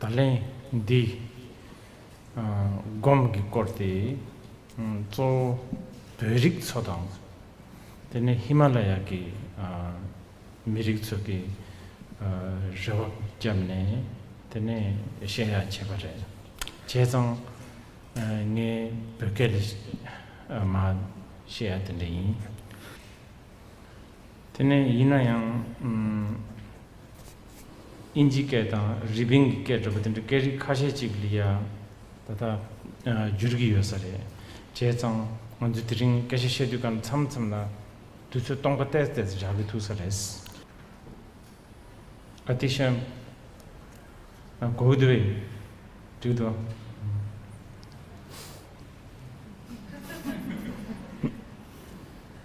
ད་ལན་འདི་སྒོམ་གྱི་སྐོར་དེ་གཙོ་བོ་བོད་རིགས་ཚོ་དང། དེ་ནས་ཧི་མ་ལ་ཡ་གི་མི་རིགས་ཚོ་གི་རེ་བ་བརྒྱབ་ནས་དེ་ནས་བཤད་ཡག་བྱས་པ་རེད། བྱས་ཙང་ངའི་བོད་སྐད་ལས་མ་བཤད་ཡག་དེ་འདྲ་ཡིན། དེ་ནས་ཡིན་ན་ཡང། ཨིན་ཇིའི་སྐད་དང་རི་པིན་གྱི་སྐད་འདྲ་པོ་དེ་འདྲ་སྐད་རིགས་ཁ་ཤས་ཅིག་ལ་ཡང་ད་ལྟ་འགྱུར་གྱི་ཡོད་ས་རེད། བྱས་ཙང་ང་ཚོས་དེ་རིང་སྐད་ཆ་བཤད་དུས་ཀར་མཚམས་མཚམས་ལ་དུས་ཚོད་སྟོང་པ་བལྟས་བལྟས་སུ་བཞག་གི་ཐུག་ས་རེད། ཨ་ཏི་ཤ། གོ་གི་འདུག་བས། འགྲིག་འདུག།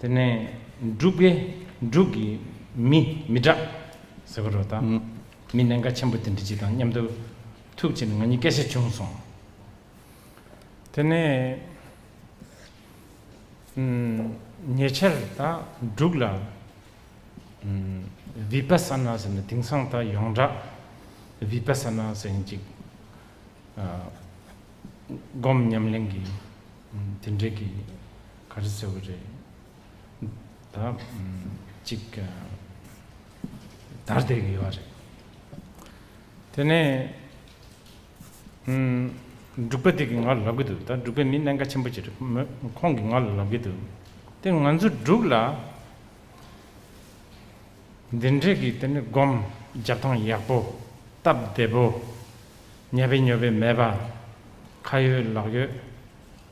དེ་ནས་འབྲུག་པས་འབྲུག་གི་མི་མི་དྲག་ཟེར་བ་རོ་དང། མི་གནད་འགག་ཆེན་པོ་དེ་འདྲི་གཅིག་དང་མཉམ་དུ་ཐུག་ཕྱིར་ང་གཉིས་སྐད་ཆ་བྱུང་སོང། དེ་ནས་ཉེ་ཆར་ད་འབྲུག་ལ་བི་པ་ས་ན་ཟེར་ནས་དེང་སང་ད་ཡོངས་གྲགས་བི་པ་ས་ན་ཟེར་ཡིན་ཅིག་སྒོམ་ཉམས་ལེན་གྱི་དེ་འདྲས་ཀྱི། ག་རེ་ཟེར་བ་རེད་ད། ཅིག་དར་དེ་གི་ཡོད་རེད། དེ་ནས། འབྲུག་པ་དེ་གི་ང་ལ་ལབ་གི་འདུག་ད་འབྲུག་པའི་མི་གནད་འགའ་ཆེན་པོ་ཅིག་རེད་མོད་ཁོང་གི་ང་ལ་ལབ་གི་འདུག་དེ་ང་ཚོ་འབྲུག་ལ། འདི་འདྲེ་གི་དེ་ནས་སྒོམ་རྒྱབ་ཐང་ཡག་པོ། སྟབས་བདེ་པོ། ཉལ་བའི་ཉོལ་བའི་མེད་པ། ཁ་ཡོད་ལག་ཡོད།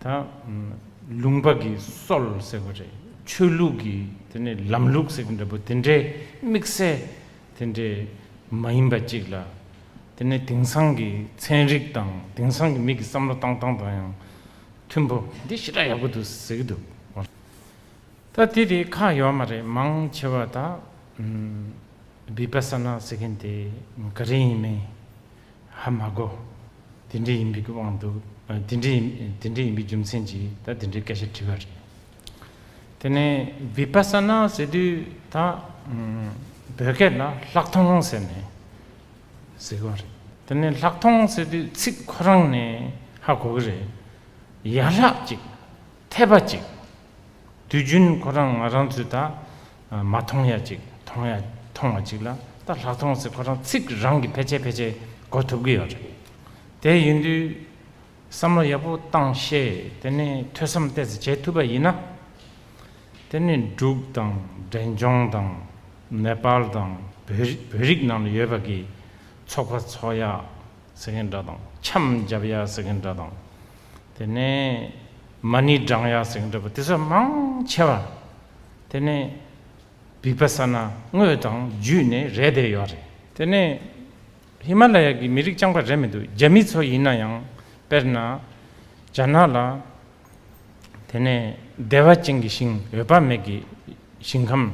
དང། ལུང་པ་གི་སྲོལ་ཟེར་བ་རེད། ཆོས་ལུགས་ཀྱི་དེ་ནས་ལམ་ལུགས་ཟེར་གྱི་འདྲ་པོ་དེ་འདྲའི་དམིགས་བསལ་དེ་འདྲའི་མ་ཡིན་པ་གཅིག་ལ། དེ་ནས་དེང་སང་གི་ཚན་རིག་དང་དེང་སང་གི་མི་གི་བསམ་བློ་བཏང་སྟངས་དང་ཡང་མཐུན་པོ་འདི་ཞེ་དྲག་ཡག་པོ་འདུག་ཟེར་གྱི་འདུག་བ། ད་དེ་དེ་ཁ་ཡོད་མ་རེད་མང་ཆེ་བ་ད། Vipassana ཟེར་མཁན་དེ་ག་རེ་ཡིན་མིན། ཧ་མ་གོ། དེ་འདྲས་ཡིན་པའི་གི་དབང་འདུག། དེ་འདྲས་དེ་འདྲས་ཡིན་པའི་རྒྱུ་མཚན་གྱིས་ད་དེ་འདྲའི་སྐད་ཆ་དྲི་བ་རེད། དེ་ནས Vipassana ཟེར་དུས་ད་བོད་སྐད་ལ་ལྷག་མཐོང་ཟེར་ནས་ཟེར་གི་རེད། དེ་ནས་ལྷག་མཐོང་ཟེར་དུས་ཚིག་ཁོ་རང་ནས་ཧ་གོ་གི་རེད། ཡར་ལྷག་ཅིག། འཐད་པ་ཅིག། དུས་རྒྱུན་ཁོ་རང་ང་རང་ཚོས་ད་མ་མཐོང་ཡ་ཅིག་མཐོང་ཡ་མཐོང་བ་ཅིག་ལ་ད་ལྷག་མཐོང་ཚེ་ཁོ་རང་ཚིག་རང་གིས་ཕལ་ཆེར་ཕལ་ཆེར་གོ་ཐུབ་ཀྱི་ཡོད་རེད། དེ་ཡིན་དུས་བསམ་བློ་ཡག་པོ་བཏང་ཤེས་དེ་ནས་ཐོས་བསམ་བལྟས་ཚེ་བྱེད་ཐུབ་པ་ཡིན་ན། དེ་ནི་འབྲུག་དང་འབྲས་ལྗོངས་དང་ནེ་པཱལ་དང་བོད་རིགས་ནང་ལ་ཡོད་པ་གིས་ཚོགས་པ་འཚོགས་ཡ་ཟེར་མཁན་འདྲ་དང་འཆམ་རྒྱབ་ཡ་ཟེར་མཁན་འདྲ་དང། དེ་ནས་མ་ནི་སྦྲང་ཡག་ཟེགས་འདྲ་བ་དེ་ཚོ་མང་ཆེ་བ་དེ་ནས་བིག་པ་ས་ན་དངོས་དང་བརྒྱུད་ནས་རེད་བསྡད་ཡོད་རེད། དེ་ནས་ཧི་མ་ལ་ཡ་གི་མི་རིགས་རྐྱང་པ་རེད་མི་འདུག་རྒྱ་མི་ཚོ་ཡིན་ན་ཡང་དཔེར་ན་རྒྱ་ནག་ལ་དེ་ནས་བདེ་བ་ཅན་གི་ཞིང་འོད་དཔག་མེད་ཀྱི་ཞིང་ཁམས་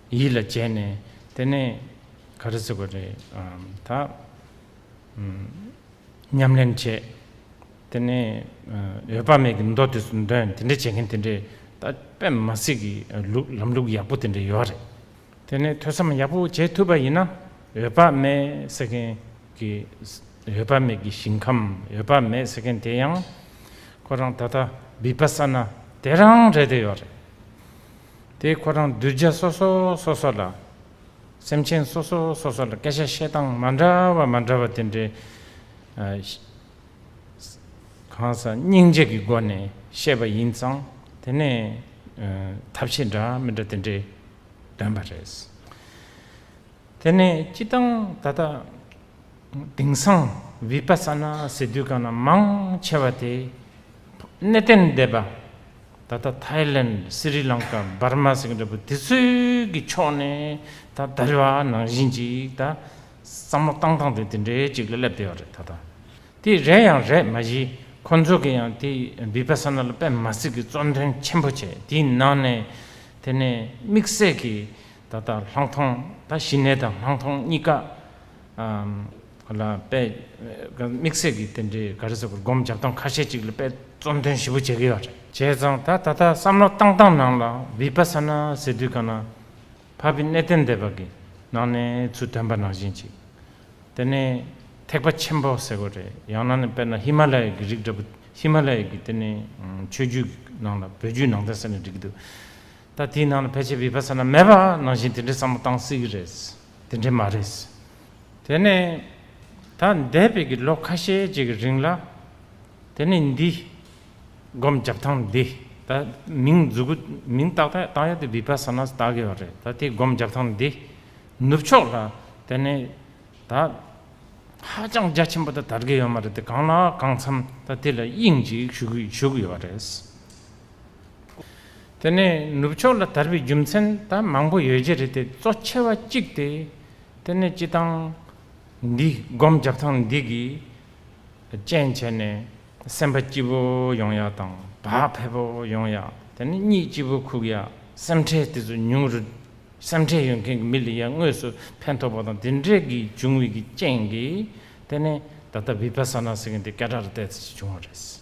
ཡིད་ལ་བྱས་ནས་དེ་ནས་ག་རེ་བཟོ་གི་རེད་ད། ཉམས་ལེན་བྱེད། དེ་ནས་འོད་དཔག་མེད་ཀྱི་མདོ་དེ་ཚོ་འདོན་དེ་འདྲས་བྱེད་མཁན་དེ་འདྲས་ད་པད་མ་སྲིད་ཀྱི་ལུགས་ལམ་ལུགས་ཡག་པོ་དེ་འདྲས་ཡོད་རེད། དེ་ནས་ཐོས་བསམ་ཡག་པོ་བྱེད་ཐུབ་པ་ཡིན་ན་འོད་དཔག་མེད་ཟེར་མཁན་གྱི་འོད་དཔག་མེད་ཀྱི་ཞིང་ཁམས་འོད་དཔག་མེད་ཟེར་མཁན་དེ་ཡང་ཁོ་རང་ད་ལྟ་བི་པ་ས་ན་དེ་རང་རེད་དེ་ཡོད་རེད་དེ་ཁོ་རང་གདུལ་བྱ་སོ་སོ་སོ་སོ་ལ། སེམས་ཅན་སོ་སོ་སོ་སོ་ལ་སྐད་ཆ་བཤད་སྟངས་མ་འདྲ་བ་མ་འདྲ་བ་དེ་འདྲའི་གང་ཟག་སྙིང་རྗེ་གི་སྒོ་ནས་བཤད་པ་ཡིན་ཙང་དེ་ནས་ཐབས་ཤེས་འདྲ་མི་འདྲ་དེ་འདྲས་འདོན་པ་རེད། དེ་ནས་སྤྱི་བཏང་ད་ལྟ་དེང་སང་བིཔ་ས་ན་ཟེར་དུས་གང་ན་མང་ཆེ་བ་དེ་གནས་བརྟན་སྡེ་པ་ད་ལྟ་ཐའི་ལེན་སི་རི་ལང་ཀཱ་འབར་མ་སིང་ཏྲ་པུར་དེ་ཚོའི་གི་ཕྱོགས་ནས་ད་ལྟ་རི་བ་ནང་བཞིན་ཅིག་ད་བསམ་བློ་བཏང་བཏང་དུ་དེ་འདྲའི་ཅིག་ལ་སླེབས་བསྡད་ཡོད་རེད་ད་ལྟ་དེ་རེད་ཡང་རེད་མ་གཞི་ཁོ་ཚོ་གི་ཡང་དེ་བི་པ་སཱ་ན་ལ་པད་མ་སི་གི་གཙོ་འདོན་ཆེན་པོ་བྱས་དེའི་ནང་ནས་དེ་ནས་དམིགས་བསལ་གི་ད་ལྟ་ལྷག་མཐོང་ད་གཞི་ནས་ད་ལྷག་མཐོང་གཉིས་ཀ་ལ་དཔལ། དམིགས་བསལ་གྱི་རྟེན་འབྲེལ་ག་རེ་ཟེར་བར་སྒོམ་བརྒྱབ་སྟངས་ཁ་ཤས་ཅིག་ལ་དཔལ་རྩོམ་དོན་ཞིབ་པོ་བྱེད་ཀྱི་ཡོད་རེད། བྱས་ཙང་ད་ད་ལྟ་བསམ་བློ་བཏང་བཏང་ནང་ལ་བི་པ་ས་ན་ཟེར་དུས་ག་ན་བྷ་བི་གནས་བརྟན་སྡེ་བ་གི་ནང་ནས་ཚུལ་དོན་པ་ནང་བཞིན་ཅིག་དེ་ནི་ཐེག་པ་ཆེན་པོ་ཟེར་དགོས་རེད་ཡང་ན་ནི་དཔེར་ན་ཧི་མ་ལ་ཡའི་གི་རིགས་འདྲ་པོ་ཧི་མ་ལ་ཡའི་གི་དེ་ནི་ཆོས་བརྒྱུད་གི་ནང་ལ་བོད་བརྒྱུད་ནང་བསྟན་ཟེར་ནས་བསྒྲིགས་ཀྱི་འདུག་ད་དེའི་ནང་ལ་ཕལ་ཆེར་བི་པ་ས་ན་མེད་པ་ནང་བཞིན་དེ་འདྲའི་བསམ་བློ་བཏང་སྲིད་ཀྱི་རེད། དེ་འདྲ་མ་རེད། དེ་ནི་ད་འདས་པའི་གི་ལོ་ཁ་ཤས་ཀྱི་གི་རིང་ལ། དེ་ནི་འདི། སྒོམ་རྒྱབ་ཐང་འདི་ད་མིང་རྫུ་གུ་མིང་ཏག་ཏག་ཏག་ཡ་ཏི་བི་པ་ས་ནཱ་སྟ་གི་བ་རེད་ད་དེ་སྒོམ་རྒྱབ་ཐང་འདི། ནུབ་ཕྱོགས་ལ་དེ་ནི་ད། ཧ་ཅང་རྒྱ་ཆེན་པོ་ད་དར་གི་ཡོད་མ་རེད་དེ་གང་ལ་གང་འཚམས་ད་དེ་ལ་དབྱིངས་ཅིག་ཞུ་གི་ཡོད་རེད། དེ་ནས་ནུབ་ཕྱོགས་ལ་དར་བའི་རྒྱུ་མཚན་ད་མང་པོ་ཡོད་རྒྱུ་རེད་དེ་གཙོ་ཆེ་བ་གཅིག་སྟེ། དེ་ནི་སྤྱི་ཐང་འདི་སྒོམ་རྒྱག་ཐང་འདི་གི་རྐྱེན་བྱས་ནས་སེམས་པ་སྐྱིད་པོ་ཡོང་ཡག་དང་བག་ཕེབས་པོ་ཡོང་ཡག་དེ་ནི་གཉིད་སྐྱིད་པོ་ཁུག་ཡག་སེམས་ཁྲལ་དེ་ཚོ་ཉུང་རུ་སེམས་ཁྲལ་ཡོད་མཁན་གྱི་མི་ལ་ཡང་དངོས་སུ་ཕན་ཐོགས་པ་དང་དེ་འདྲས་ཀྱི་བྱུང་བའི་རྐྱེན་གྱིས་དེ་ནི་ད་ལྟ་བི་པ་ས་ན་ཟེར་མཁན་དེ་སྐད་གྲགས་རེད་ལྟ་ཅི་བྱུང་བ་རེད།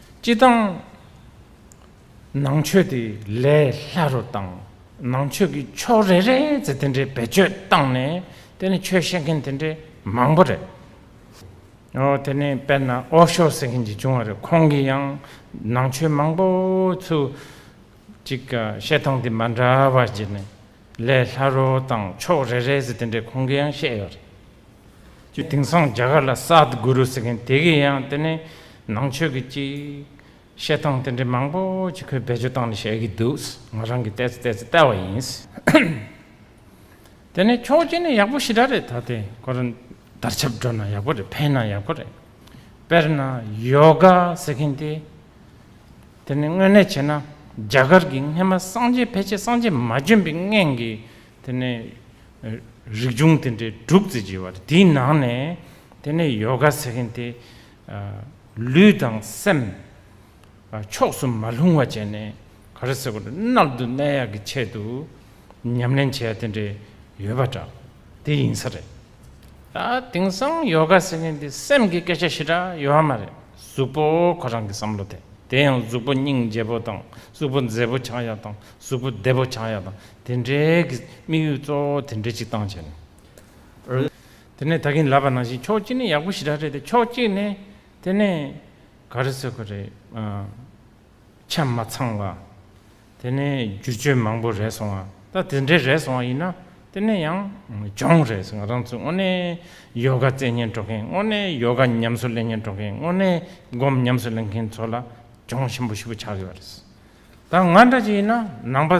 སྤྱི་དང། ནང་ཆོས་དེ་ལས་སླ་རུ་བཏང། ནང་ཆོས་ཀྱི་ཕྱོགས་རེ་རེ་ཚོ་དེ་འདྲའི་བེད་སྤྱོད་བཏང་ནས་དེ་ནི་ཆོས་བཤད་མཁན་དེ་འདྲའི་མང་པོ་རེད། ཨོ་དེ་ནས་དཔེར་ན་ཨོ་ཤོ་ཟེར་མཁན་ཅིག་བྱུང་བ་རེད་ཁོང་གིས་ཡང་ནང་ཆོས་མང་པོ་ཚོ་ཅིག་བཤད་སྟངས་དེ་མ་འདྲ་བ་བརྗེད་ནས་ལས་སླ་རོ་དང་ཕྱོགས་རེ་རེ་ཟེར་དེ་འདྲའི་ཁུངས་སྐྱེལ་ཡང་བཤད་ཡོད་རེད། ཅེས་དེང་སང་རྒྱ་གར་ལ་སཱད་གུ་རུ་ཟེར་མཁན་དེ་གས་ཡང་དེ་ནས་ནང་ཆོས་ཀྱི་ཅིག། བཤད་སྟངས་དེ་འདྲའི་མང་པོ་ཅིག་ཁོས་བེད་སྤྱོད་བཏང་ནས་བཤད་ཀྱི་འདུག་ང་རང་གིས་བལྟས་ཚེ་བལྟས་ཚེ་བལྟས་བ་ཡིན། དེ་ནས་ཆོག་མཆན་ནི་ཡག་པོ་ཞེ་དྲག་རེད་ད་ལྟའི་སྐོར་བརྡར་ཆབ་སྒྲོག་ན་ཡག་པོ་རེད་འཕེན་ན་ཡག་པོ་རེད། དཔེར་ན་ཡོ་ག་ཟེར་མཁན་དེ། དེ་ནི་དངོས་གནས་བྱས་ན་རྒྱ་གར་གྱི་སྔས་མ་སངས་རྒྱས་ཕལ་ཆེར་སངས་རྒྱས་མ་བྱོན་པའི་སྔས་ཀྱི་དེ་ནི་རིག་འབྱུང་དེ་འདྲའི་དྲུག་བརྩི་བགྱི་བ་རེད་དེའི་ནང་ནས་དེ་ནི་ཡོ་ག་ཟེར་མཁན་དེ་ལུས་དང་སེམས་ཕྱོགས་སུ་མ་ལྷུང་བ་བྱས་ནས་ག་རེ་ཟེར་དགོས་རེད་རྣལ་དུ་གནས་ཡག་གི་ཆེད་དུ་ཉམས་ལེན་བྱས་ཡ་དེ་འདྲས་ཡོད་པ་འདྲ་དེ་ཡིན་ས་རེད། དེང་སང་ཡོ་ག་ཟེར་མཁན་དེ་སེམས་ཀྱི་སྐད་ཆ་ཞེ་དྲག་ཡོད་ཧ་མ་རེད་གཟུགས་པོ་ཁོ་རང་གི་བསམ་བློ་དེ་དེ་ཡང་གཟུགས་པོ་སྙིང་རྗེ་པོ་དང་གཟུགས་པོ་མཛེས་པོ་ཆགས་ཡག་དང་གཟུགས་པོ་བདེ་པོ་ཆགས་ཡག་དང་དེ་འདྲའི་གི་དམིགས་ཡུལ་གཙོ་བོ་དེ་འདྲའི་ཅིག་བཏང་བྱས་ནས། དེ་ནས་ད་གིན་ལབ་པ་ནང་བཞིན་ཕྱོགས་གཅིག་ནས་ཡག་པོ་ཞེ་དྲག་རེད་དེ་ཕྱོགས་གཅིག་ནས་དེ་ནས་ག་རེ་ཟེར་གི་རེད་ཆ་མ་ཚང་བ། དེ་ནས་བསྒྱུར་བཅོས་མང་པོ་རེད་སོང་བ་ད་དེ་འདྲའི་རེད་སོང་བ་ཡིན་ན་དེ་ནས་ཡང་སྦྱོང་རེད་སོང་ང་རང་ཚོ་དངོས་གནས་ཡོ་ག་རྩལ་ཉན་འགྲོ་མཁན་དངོས་གནས་ཡོ་ག་ཉམས་སུ་ལེན་མཁན་འགྲོ་མཁན་དངོས་གནས་སྒོམ་ཉམས་སུ་ལེན་མཁན་ཚོ་ལ་སྦྱོང་ཞིམ་པོ་ཞིབ་པོ་བྱ་དགོས་པ་རེད་ད་ང་འདྲ་ཅིག་ཡིན་ན་ནང་པ་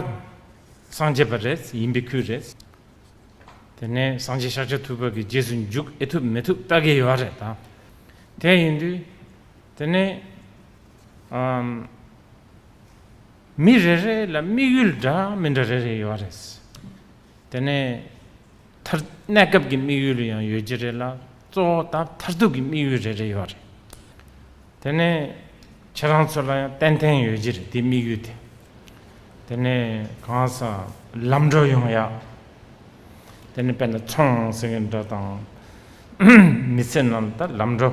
སངས་རྒྱས་པ་རེད་ཡིན་པའི་ཁུལ་རེད་དེ་ནས་སངས་རྒྱས་ཤཱཀྱ་ཐུབ་པ་གི་རྗེས་སུ་འཇུག་ཨེ་ཐུབ་མི་ཐུབ་ལྟ་གི་ཡོད་རེད་ད་དེ་ཡིན་དུས་དེ་ནས་མི་རེ་རེ་ལ་དམིགས་ཡུལ་འདྲ་མི་འདྲ་རེ་རེ་ཡོད་རེད། དེ་ནས་མཐར་གནས་སྐབས་ཀྱི་དམིགས་ཡུལ་ཡང་ཡོད་ཀྱི་རེད་ལ་གཙོ་བོ་ད་མཐར་ཐུག་གི་དམིགས་ཡུལ་རེ་རེ་ཡོད་རེད། དེ་ནས་ཁྱེད་རང་ཚོ་ལ་ཡང་ཏན་ཏན་ཡོད་ཀྱི་རེད་དེ་དམིགས་ཡུལ་དེ། དེ་ནས་གང་སར་ལམ་འགྲོ་ཡོང་ཡ། དེ་ནས་དཔེར་ན་ཚོང་ཟེར་གྱི་འདྲ་དང། མི་ཚེ་ནང་ལ་ལམ་འགྲོ།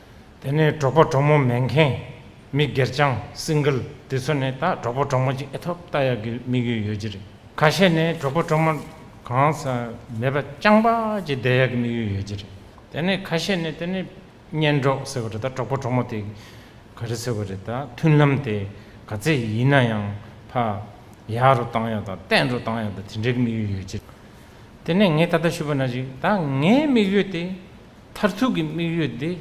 དེ་ནས་གྲོགས་པོ་གྲོགས་མོ་མེག་གྷན། མི་སྒེར་ཅང Single། དེ་ཚོ་ནི་ད་གྲོགས་པོ་གྲོགས་མོ་གཅིག་ཨེ་ཐོབ་ལྟ་ཡག་གི་དམིགས་ཡུལ་ཡོད་ཀྱི་རེད། ཁ་ཤས་ནི་གྲོགས་པོ་གྲོགས་མོ་གང་ས་མེད་པ་ཅང་པ་གཅིག་བསྡད་ཡག་གི་དམིགས་ཡུལ་ཡོད་ཀྱི་རེད། དེ་ནི་ཁ་ཤས་ནི་དེ་ནི་གཉེན་གྲོགས་ཟེར་བ་རེད་ད་གྲོགས་པོ་གྲོགས་མོ་དེ་ག་རེ་ཟེར་བ་རེད་ད་མཐུན་ལམ་དེ་ག་ཚད་ཡིན་ན་ཡང་ཕ་ཡག་རུ་བཏང་ཡག་དང་བརྟན་རུ་བཏང་ཡག་དེ་འདྲའི་དམིགས་ཡུལ་ཡོད་ཀྱི་རེད། དེ་ནས་ངས་ད་ལྟ་ཞུས་པ་ན་ཅིག་ད་ངའི་དམིགས་ཡུལ་དེ། མཐར་ཐུག་གི་དམིགས་ཡུལ་དེ་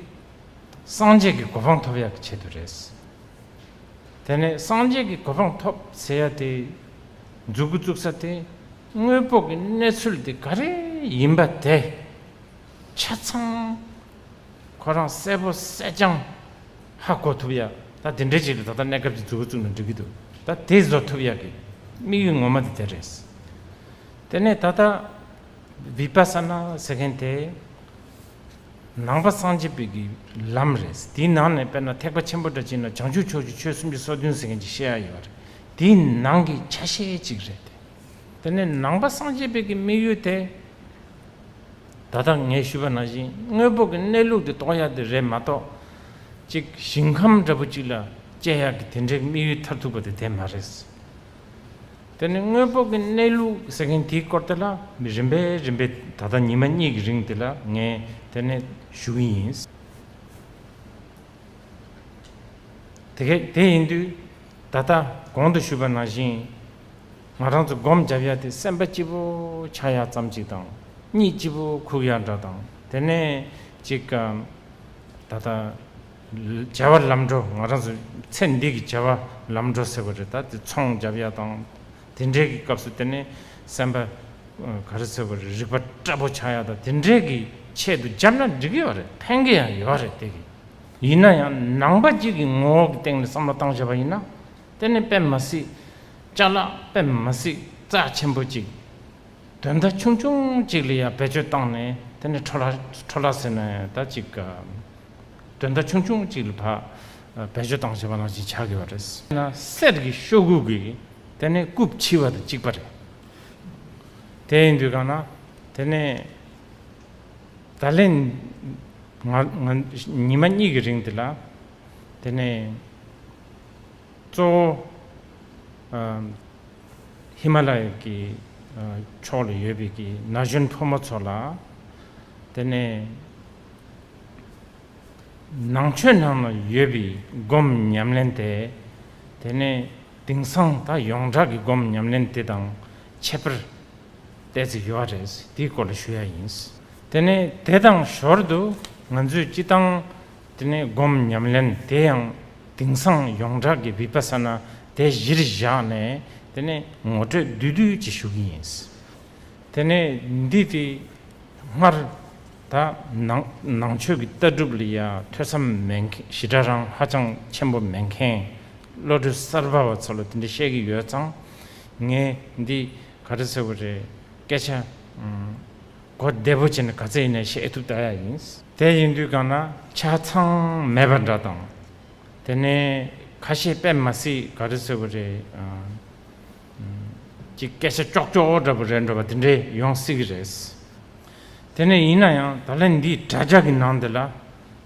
སངས་རྒྱས་ཀྱི་གོ་འཕང་ཐོབ་ཡག་གི་ཆེད་དུ་རེད། དེ་ནས་སངས་རྒྱས་ཀྱི་གོ་འཕང་ཐོབ་ཟེར་ཡག་དེ་འཛུགས་སྐུ་བཙུགས་ས་དེ་དངོས་པོ་གི་གནས་ཚུལ་དེ་ག་རེ་ཡིན་པ་དེ་ཆ་ཚང་ཁོ་རང་གསལ་པོ་གསལ་རྐྱང་ཧ་གོ་ཐུབ་ཡག་ད་དེ་འདྲའི་ཅིག་ལ་ད་ལྟ་གནས་སྐབས་ཀྱི་འཛུགས་སྐུ་བཙུགས་ན་འགྲིག་གི་འདུག་ད་དེ་བཟོ་ཐུབ་ཡག་གི་དམིགས་ཡུལ་ངོ་མ་དེ་དེ་རེད། དེ་ནས་ད་ལྟ Vipassana ཟེར་མཁན་དེ་ནང་པ་སངས་རྒྱས་པའི་གི་ལམ་རེད། དེའི་ནང་ནས་དཔེར་ན་ཐེག་པ་ཆེན་པོ་འདྲ་བྱས་ན་བྱང་ཆུབ་ཕྱོགས་ཀྱི་ཆོས་སུམ་ཅུ་སོ་བདུན་ཟེར་མཁན་གྱི་བཤད་ཡ་ཡོད་པ་རེད། དེའི་ནང་གི་ཆ་ཤས་གཅིག་རེད་དེ། དེ་ནས་ནང་པ་སངས་རྒྱས་པའི་གི་དམིགས་ཡུལ་དེ། ད་ལྟ་ངས་ཞུས་པ་ནང་བཞིན་དངོས་པོ་གི་གནས་ལུགས་དེ་རྟོགས་ཡ་དེ་རེད་མ་གཏོགས། གཅིག་ཞིང་ཁམས་འདྲ་པོ་གཅིག་ལ་དཔྱད་ཡ་གི་དེ་འདྲའི་དམིགས་ཡུལ་མཐར་ཐུག་པ་དེ་དེ་མ་རེད། དེ་ནི་དངོས་པོ་གི་གནས་ལུགས་ཟེར་མཁན་དེའི་སྐོར་དེ་ལ་རིམ་པས་རིམ་པས་ད་ལྟ་ཉི་མ་གཉིས་ཀྱི་རིང་དེ་ལ་ངས་དེ་ནས་ཞུ་གི་ཡིན། དེ་གས་དེ་ཡིན་དུས་ད་ལྟ་གོང་དུ་ཞུས་པ་ནང་བཞིན་ང་རང་ཚོ་སྒོམ་བརྒྱབ་ཡ་དེ་སེམས་པ་སྐྱིད་པོ་ཆགས་ཡ་ཙམ་གཅིག་དང་གཉིད་སྐྱིད་པོ་ཁུག་ཡ་འདྲ་དང་དེ་ནས་གཅིག་ད་ལྟ་བྱ་བ་ལམ་འགྲོ་ང་རང་ཚོ་ཚེ་འདི་གི་བྱ་བ་ལམ་འགྲོ་ཟེར་བ་རེད་ད་དེ་ཚོང་བརྒྱབ་ཡ་དང་དེ་འདྲའི་གི་སྐབས་སུ་དེ་ནས་སེམས་པ་ག་རེ་ཟེར་བ་རེད་རིག་པ་སྐྲ་པོ་ཆག་ཡ་དང་དེ་འདྲའི་གི་ཆེད་དུ་བརྒྱབ་ན་འགྲིག་གི་ཡོད་རེད་ཕན་གི་ཡང་ཡོད་རེད་དེ་གི་ཡིན་ན་ཡང་ནང་པ་གཅིག་གི་ངོ་བོ་གི་སྟེང་ནས་བསམ་བློ་བཏང་བྱས་པ་ཡིན་ན་དེ་ནི་དཔེ་མ་སྲིད་ལྕགས་ལག་དཔེ་མ་སྲིད་རྩ་ཆེན་པོ་གཅིག་དོན་མཐའ་ཆུང་ཆུང་གཅིག་ལ་ཡང་བེད་སྤྱོད་བཏང་ནས་དེ་ནས་ཁྲོ་ལ་ཁྲོ་ལ་ཟེར་ན་ཡང་ད་ཅིག་ག་དོན་དག་ཆུང་ཆུང་གཅིག་ལ་བག་བེད་སྤྱོད་སྟངས་བྱེད་པ་ནང་བཞིན་བྱ་དགོས་པ་རེད། ན་གསེར་གྱི་ཤོག་གུ་གིས་དེ་ནས་རྐུབ་ཕྱི་བ་དང་གཅིག་པ་རེད། དེ་ཡིན་དུས་གང་ན་དེ་ནས་ད་ལན་ཉི་མ་གཉིས་ཀྱི་རིང་དེ་ལ་དེ་ནས་གཙོ་བོ་ཧི་མ་ལ་ཡ་གི་ཕྱོགས་ལ་ཡོད་པའི་གྱི་ན་གཞོན་ཕོ་མོ་ཚོ་ལ་དེ་ནས། ནང་ཆོས་ནང་ན་ཡོད་པའི་སྒོམ་ཉམས་ལེན་དེ། དེ་ནས་དེང་སང་ད་ཡོངས་གྲགས་ཀྱི་སྒོམ་ཉམས་ལེན་དེ་དང་ཁྱད་པར་གཏད་ཚིག་ཡོད་རེད་དེའི་སྐོར་ལ་ཞུ་ཡ་ཡིན། དེ་ནས་དེ་དང་ཞོར་དུ་ང་ཚོས་སྤྱི་བཏང་དེ་ནས་སྒོམ་ཉམས་ལེན་དེ་ཡང་དེང་སང་ཡོངས་གྲགས་ཀྱི་བི་པ་ས་ན་དེ་གཞིར་བཞག་ནས་དེ་ནས་ངོ་སྤྲོད་བསྡུས་བསྡུས་ཀྱིས་ཞུ་གི་ཡིན། དེ་ནས་འདི་སྟེ་སྔར་དང་ནང་ཆོས་ཀྱི་ལྟ་གྲུབ་ལ་ཡང་ཐོས་བསམ་མེད་མཁན་ཞི་དྲག་རང་ཧ་ཅང་ཆེན་པོ་མེད་མཁན་བློ་གྲོས་གསར་པ་བ་ཚོ་ལ་དེ་འདྲ་བཤད་ཀྱི་ཡོད་ཙང་ངས་འདི་ག་རེ་ཟེར་བ་རེད་སྐད་ཆ་གོ་བདེ་པོ་བྱས་ན་ག་ཚད་ཡིན་ན་བཤད་ཐུབ་ད་ཡག་ཡིན། དེ་ཡིན་དུས་གང་ན་ཆ་ཚང་མེད་པ་འདྲ་དང། དེ་ནས་ཁ་ཤས་པད་མ་སི་ག་རེ་ཟེར་བ་རེད། ཀྱི་སྐད་ཆ་ཀྱོག་ཀྱོག་འདྲ་པོ་རེད་འདྲ་པ་དེ་འདྲས་ཡོང་སྲིད་ཀྱི་རེད། དེ་ནས་ཡིན་ན་ཡང་ད་ལན་འདིའི་དྲ་རྒྱ་ཀྱི་ནང་དེ་ལ་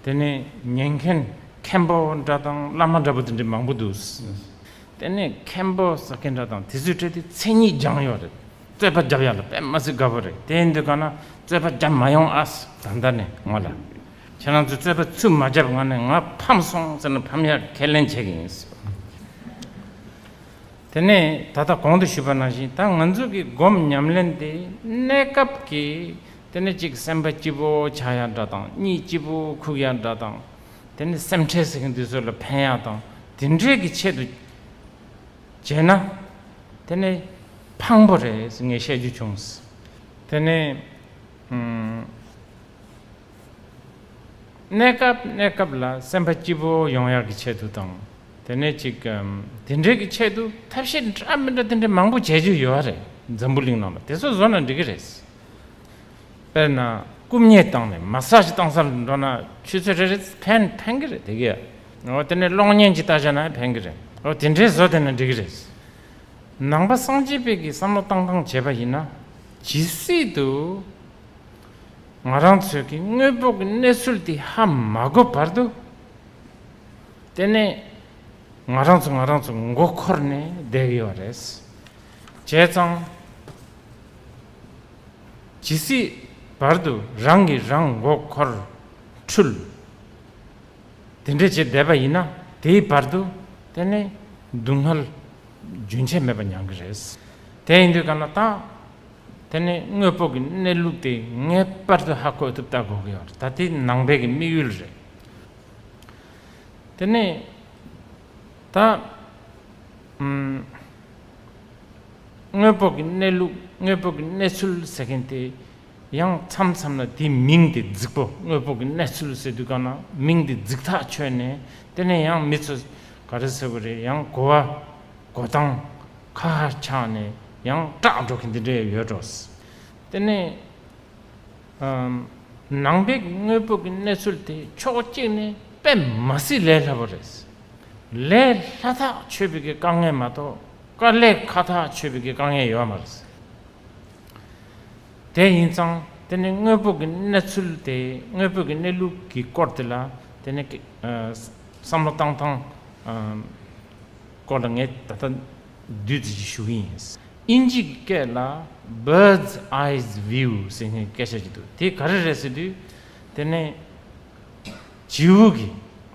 དེ་ནས་ཉན་མཁན་མཁན་པོ་འདྲ་དང་བླ་མ་འདྲ་པོ་དེ་འདྲས་མང་པོ་འདུག་དེ་ནས་མཁན་པོ་ཟེར་མཁན་འདྲ་དང་དེ་ཚོའི་གྲས་དེ་མཚན་ཉིད་སྦྱང་ཡོད་རེད་རྩོད་པ་བརྒྱབ་ཡག་ལ་དཔེ་མ་ཟིག་དགའ་པོ་རེད་དེ་འདི་ག་ན་རྩོད་པ་བརྒྱབ་མ་ཡོང་ཨ། ད་ལྟ་ནས་ང་ལ་ཁྱེད་རང་ཚོས་རྩོད་པ་ཚུད་མ་བརྒྱབ་ང་ནས་ང་ཕམ་སོང་ཟེར་ན་ཕམ་ཡག་ཁས་ལེན་བྱེད་ཀྱི་ཡིན། དེ་ནས་ད་ལྟ་གོང་དུ་ཞུས་པ་ནང་བཞིན་ད་ང་ཚོ་གི་སྒོམ་ཉམས་ལེན་དེ་གནས་སྐབས་ཀྱི་དེ་ནས་གཅིག་སེམས་པ་སྐྱིད་པོ་ཆགས་ཡག་འདྲ་དང་གཉིས་སྐྱིད་པོ་ཁུག་ཡག་འདྲ་དང་དེ་ནས་སེམས་ཁྲལ་ཟེར་གྱི་འདུག་ཚོད་ལ་ཕན་ཡག་དང་དེ་འདྲའི་གི་ཆེད་དུ་བྱས་ན་དེ་ནས་ཕངས་པོ་རེད་ངས་བཤད་རྒྱུ་བྱུང། དེ་ནས། གནས་སྐབས་གནས་སྐབས་ལ་སེམས་པ་སྐྱིད་པོ་ཡོང་ཡག་གི་ཆེད་དུ་དང། དེ་ནས་ཅིག་དེ་འདྲའི་གི་ཆེད་དུ་ཐབས་ཤེས་འདྲ་མི་འདྲ་དེ་འདྲའི་མང་པོ་བྱེད་རྒྱུ་ཡོད་རེད་འཛམ་བུ་གླིང་ནང་ལ་དེ་ཚོ་བཟོ་ན་འགྲིག་གི་རེད། དཔེར་ན་རྐུབ་བརྙས་བཏང་ནས massage བཏང་སར་འགྲོ་ན་ཆུ་ཚོད་རེ་རེ་ཕན་ཕན་གི་རེད་དེ་གི། འོ་དེ་ནས་གློག་བརྙན་གྱི་ལྟ་བྱས་ན་ཕན་གི་རེད་འོ་དེ་འདྲའི་བཟོ་དེ་ན་འགྲིག་གི་རེད། ནང་པ་སངས་རྒྱས་དཔལ་གྱི་བསམ་བློ་བཏང་བཏང་བྱས་པ་ཡིན་ན་ཇི་སྲིད་དུ། ང་རང་ཚོས་ཀྱི་དངོས་པོ་གི་གནས་ཚུལ་དེ་ཧ་མ་གོ་བར་དུ། དེ་ནས་ང་རང་ཚོ་ང་རང་ཚོ་མགོ་འཁོར་ནས་བསྡད་ཡོད་པ་རེད། བྱས་ཙང། ཇི་སྲིད་བར་དུ་རང་གིས་རང་མགོ་འཁོར་འཁྲུལ། དེ་འདྲས་བྱས་བསྡད་པ་ཡིན་ན་དེའི་བར་དུ་དེ་ནས་སྡུག་བསྔལ་རྒྱུན་ཆད་མེད་པ་མྱང་གི་རེད། དེ་ཡིན་དུས་ག་ལ་ད། དེ་ནི་དངོས་པོ་གི་གནས་ལུགས་དེ་ངེས་པར་དུ་ཧ་གོ་ཐུབ་ལྟ་དགོས་ཀྱི་ཡོད། ད་དེ་ནང་པའི་གི་དམིགས་ཡུལ་རེད། དེ་ནི་ད། དངོས་པོ་གི་གནས་ལུགས་དངོས་པོ་གི་གནས་ཚུལ་ཟེར་མཁན་དེ་ཡང་མཚམས་མཚམས་ལ་དེའི་མིང་དེ་རྫིག་པོ་དངོས་པོ་གི་གནས་ཚུལ་ཟེར་དུས་གང་ན་མིང་དེ་རྫིག་ཐག་ཆོད་ནས་དེ་ནས་ཡང་མི་ཚོས་ག་རེ་ཟེར་བ་རེད་ཡང་གོ་བ་གོ་སྟངས། ཁ་ཆགས་ནས་ཡང་སྐྲག་འགྲོ་གི་འདི་འདྲ་ཡོད་འགྲོ། དེ་ནས་ནང་པའི་དངོས་པོ་གི་གནས་ཚུལ་དེ་ཕྱོགས་གཅིག་ནས་དཔེ་མ་སྲིད་ལས་སླ་པོ་རེད། ལས་སླ་ཐག་ཆོད་པའི་གི་དཀའ་ངལ་མ་གཏོགས་དཀའ་ལས་ཁ་ཐག་ཆོད་པའི་གི་དཀའ་ངལ་ཡོད་མ་རེད། དེ་ཡིན་ཙང་དེ་ནས་དངོས་པོ་གི་གནས་ཚུལ་དེ་དངོས་པོ་གི་གནས་ལུགས་གི་སྐོར་དེ་ལ་དེ་ནས་བསམ་བློ་བཏང་ཐང། སྐོར་ལ་ངས་ད་ལྟ་བདུད་རྩི་ཞིག་ཞུ་གི་ཡིན། དབྱིན་ཇིའི་སྐད་ལ Bird's Eyes View ཟེར་མཁན་སྐད་ཆ་ཅིག་འདུག་དེ་ག་རེ་རེད་ཟེར་དུས། དེ་ནི་བྱིའུ་གི།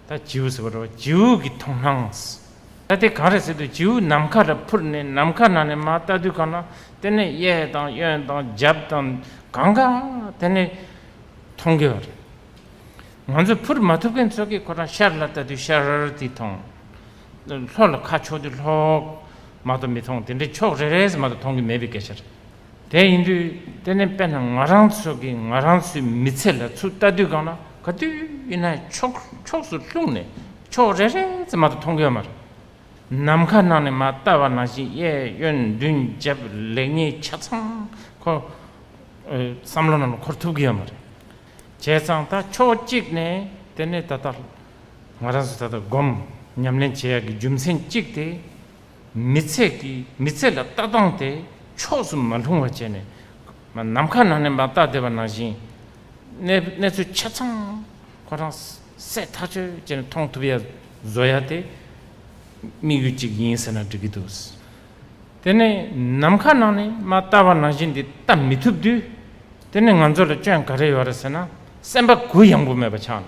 ད་བྱིའུ་ཟེར་བ་འདྲ་བ་བྱིའུ་གི་མཐོང་སྣང། ད་དེ་གང་རེད་ཟེར་དུས་བྱིའུ་ནམ་མཁའ་ལ་འཕུར་ནས་ནམ་མཁའ་ནང་ནས་མ་བལྟ་དུས་གང་ན་དེ་ནི་གཡས་དང་གཡོན་དང་རྒྱབ་དང་གང་གང་དེ་ནི་མཐོང་གི་རེད། ང་ཚོ་འཕུར་མ་ཐུབ་མཁན་ཚོ་གིས་ཁོ་རང་ཤར་ལ་བལྟ་དུས་ཤར་དེ་མཐོང། ལྷོ་ལ་ཁ་ཕྱོགས་དུས་ལྷོག་མ་གཏོགས་མི་མཐོང་དེ་འདྲའི་ཕྱོགས་རེ་རེ་ཟེར་མ་གཏོགས་མཐོང་གི་མེད་པའི་སྐད་ཆ་རེད། དེ་ཡིན་དུས་དེ་ནས་དཔེར་ན་ང་རང་ཚོ་གིས་ང་རང་ཚོའི་མི་ཚེ་ལ་ཚུར་ལྟ་དུས་གང་ན་ག་དུས་ན་ཕྱོགས་ཕྱོགས་སུ་ལྷུང་ནས་ཕྱོགས་རེ་རེ་ཟེར་མ་གཏོགས་མཐོང་གི་ཡོད་མ་རེད། ནམ་མཁའ་ནང་ནས་མ་བལྟ་བ་ནང་བཞིན་གཡས་གཡོན་མདུན་རྒྱབ་ལེགས་ཉེས་ཆ་ཚང་ཁོ་བསམ་བློ་ནང་ལ་འཁོར་ཐུབ་ཀྱི་ཡོད་མ་རེད། བྱས་ཙང་ད་ཕྱོགས་གཅིག་ནས་དེ་ནས་ད་ལྟ་ང་རང་ཚོ་ད་ལྟ་སྒོམ་ཉམས་ལེན་བྱེད་ཡག་གི་རྒྱུ་མཚན་གཅིག་དེ། མི་ཚེ་གི་མི་ཚེ་ལ་ལྟ་སྟངས་དེ་ཕྱོགས་སུ་མ་ལྷུང་བ་བྱས་ནས། ནམ་མཁའ་ནང་ནས་མ་བརྟགས་བསྡད་པ་ནང་བཞིན། གནས་གནས་ཚུལ་ཆ་ཚང་ཁོ་རང་སད་ཐག་ཆོད་བྱས་ནས་མཐོང་ཐུབ་ཡག་བཟོ་ཡག་དེ། དམིགས་ཡུལ་གཅིག་ཡིན་ཟེར་ན་འགྲིག་གི་འདུག། དེ་ནས་ནམ་མཁའ་ནང་ནས་མ་བརྟགས་པ་ནང་བཞིན་འདི་ལྟ་མི་ཐུབ་དུས། དེ་ནས་ང་ཚོ་ལ་སྐྱོན་ག་རེ་ཡོད་རེད་ཟེར་ན་སེམས་པ་གུ་ཡངས་པོ་མེད་པ་ཆགས་ནས།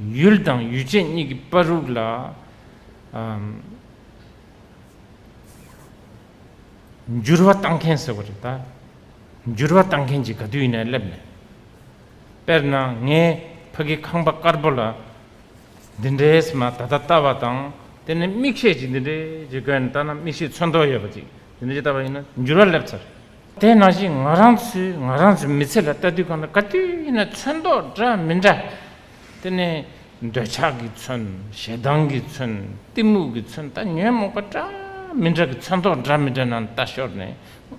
ཡུལ་དང་ཡུལ་ཅན་གཉིས་ཀྱི་པར་རུག་ལ། འགྱུར་བ་བཏང་མཁན་ཟེར་བ་རེད་ད། འགྱུར་བ་བཏང་མཁན་གྱི་ག་དུས་ཡིན་ནའི་སླེབས་ནས། དཔེར་ན་ངའི་ཕ་གི་ཁང་པ་དཀར་པོ་ལ། འདི་འདྲའི་ཟེར་མ་ད་ལྟ་བལྟ་བ་དང། དེ་ནས་དམིགས་བཤད་ཅིག་འདི་འདྲའི་ཅིག་བཀོད་ནས་བལྟ་ན་དམིགས་བཤད་མཚོན་ཐོག་ཡོད་པ་ཅིག་འདི་འདྲའི་ཅིག་བལྟ་བ་ཡིན་ན་འགྱུར་བ་སླེབས་ཚར། དེ་ནང་བཞིན་ང་རང་ཚོས་ང་རང་ཚོའི་མི་ཚེ་ལ་ལྟ་དུས་གང་ལྟར་ག་དུས་ན་མཚོན་མདོག་འདྲ་མི་འདྲ་དེ་ནི་འདོད་ཆགས་ཀྱི་མཚོན་ཞེ་སྡང་གི་མཚོན་གཏི་མུག་གི་མཚོན་ལྟ་ཉོན་མོངས་པ་འདྲ་མི་འདྲ་གི་མཚོན་མདོག་འདྲ་མི་འདྲ་ནང་ལྟ་ཞོར་ནས་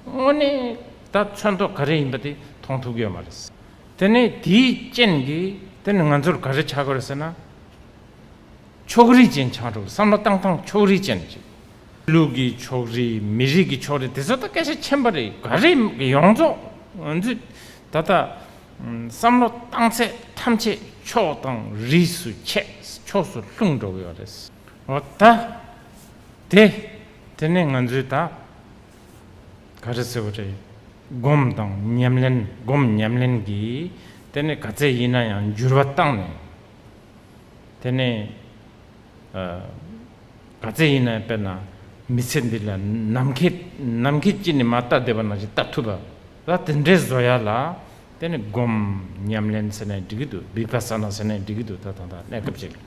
དངོས་གནས་ད་མཚོན་མདོག་ག་རེ་ཡིན་པ་དེ་མཐོང་ཐུབ་ཀྱི་ཡོད་མ་རེད། དེ་ནི་དེའི་རྐྱེན་གྱིས་དེ་ནི་ང་ཚོར་ག་རེ་བྱ་དགོས་རེད་ཟེར་ན། ཕྱོགས་རིས་ཅན་ཆགས་འགྲོ་བའི་བསམ་བློ་བཏང་སྟངས་ཕྱོགས་རིས་ཅན་ཞིག། ལུགས་ཀྱི་ཕྱོགས་རིས་མི་རིགས་ཀྱི་ཕྱོགས་རིས་དེ་ཚོ་ད་སྐད་ཆ་ཆེན་པོ་རེད་ག་རེད་ཡོངས་རྫོགས་ང་ཚོས་ད་ལྟ་བསམ་བློ་བཏང་ཚད་ཐམས་ཅད་ཕྱོགས་དང་རིས་སུ་ཆད་ཕྱོགས་སུ་ལྷུང་འགྲོ་གི་ཡོད་རེད་འོ་ད་དེ་དེ་ནས་ང་ཚོས་ད་ག་རེ་ཟེར་བ་རེད་སྒོམ་དང་ཉམས་ལེན་སྒོམ་ཉམས་ལེན་གྱིས་དེ་ནས་ག་ཚད་ཡིན་ན་ཡང་འགྱུར་བ་བཏང་ནས། དེ་ནས་ག་ཚད་ཡིན་ན་དཔེར་ན་མི་ཚེ་འདི་ལ་ནམ་མཁའི་ནམ་མཁའི་དཀྱིལ་ནས་མ་བལྟ་བསྡད་པ་ན་ཞིག་བལྟ་ཐུབ་པ་ལ་དེ་འདྲའི་བཟོ་ཡ་ལ་དེ་ནས་སྒོམ་ཉམས་ལེན་ཟེར་ནས་འགྲིག་གི་འདུག་འབིགས་པ་ཟ་ན་ཟེར་ནས་འགྲིག་གི་འདུག་ད་ཐང་ད་གནས་སྐབས་ཅིག་ལ་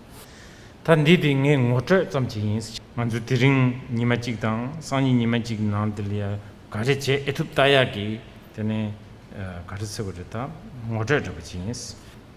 ད་འདི་དེ་ངའི་ངོ་སྤྲོད་ཙམ་ཅིག་ཡིན། ང་ཚོ་དེ་རིང་ཉི་མ་གཅིག་དང་སང་ཉིན་ཉི་མ་གཅིག་གི་ནང་དེ་ལ་ཡང་ག་རེ་བྱེད་ཨེ་ཐུབ་བལྟ་ཡག་གི་དེ་ནས་ག་རེ་ཟེར་བ་རེ་ད་ངོ་སྤྲོད་རེ་བ་ཅིག་ཡིན།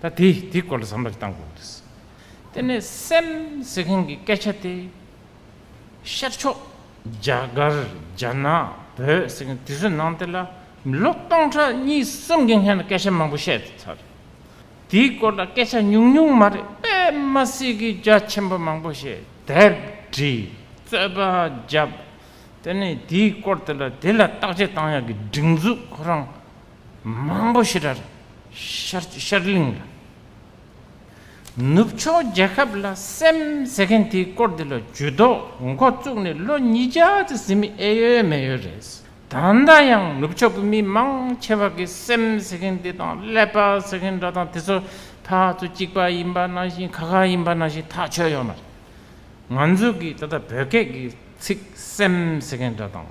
ད་དེ་དེའི་སྐོར་ལ་བསམ་བློ་གཏང་དགོས་རེད། དེ་ནས་སེམས་ཟེར་མཁན་གྱི་སྐད་ཆ་དེ། ཤར་ཕྱོགས་རྒྱ་གར་རྒྱ་ནག་བོད་ཟེར་མཁན་དེ་ཚོའི་ནང་དེ་ལ་མི་ལོ་སྟོང་ཕྲག་གཉིས་གསུམ་གྱི་སྔན་ལ་སྐད་ཆ་མང་པོ་བཤད་ཐུབ་ཚར་རེད། དེའི་སྐོར་ལ་སྐད་ཆ་ཉུང་ཉུང་མ་རེད་པདྨ་སྲིད་ཀྱི་རྒྱ་ཆེན་པོ་མང་པོ་ཞེས་དེབ་བྲིས་རྩོད་པ་བརྒྱབ། དེ་ནས་དེའི་སྐོར་དེ་ལ་དེ་ལ་བརྟག་དཔྱད་གཏང་ཡག་གི་སྒྲིག་འཛུགས་ཁོ་རང་མང་པོ་ཞི་རར་ཤར་གླིང་ལ། ནུབ་ཕྱོགས་རྒྱལ་ཁབ་ལ་སེམས་ཟེར་མཁན་དེའི་སྐོར་འདི་ལ་ཇུས་གཏོགས་མགོ་བཙུགས་ནས་ལོ་ཉིས་བརྒྱ་ཙི་ཟིན་མི་ཨེ་ཡོད་མེད་ཡོད་རེད། ད་ལྟ་ཡང་ནུབ་ཕྱོགས་ཀྱི་མི་མང་ཆེ་བ་གི་སེམས་ཟེར་མཁན་དེ་དང་ཀླད་པ་ཟེར་མཁན་འདྲ་དང་དེ་ཚོ་ཕག་ཚོ་གཅིག་པ་ཡིན་པ་ནང་བཞིན་ཁ་ཁ་ཡིན་པ་ནང་བཞིན་ཐག་ཆོད་ཡོད་མ་རེད། ང་ཚོ་གི་ད་ལྟ་བོད་སྐད་ཀྱི་ཚིག་སེམས་ཟེར་མཁན་འདྲ་དང།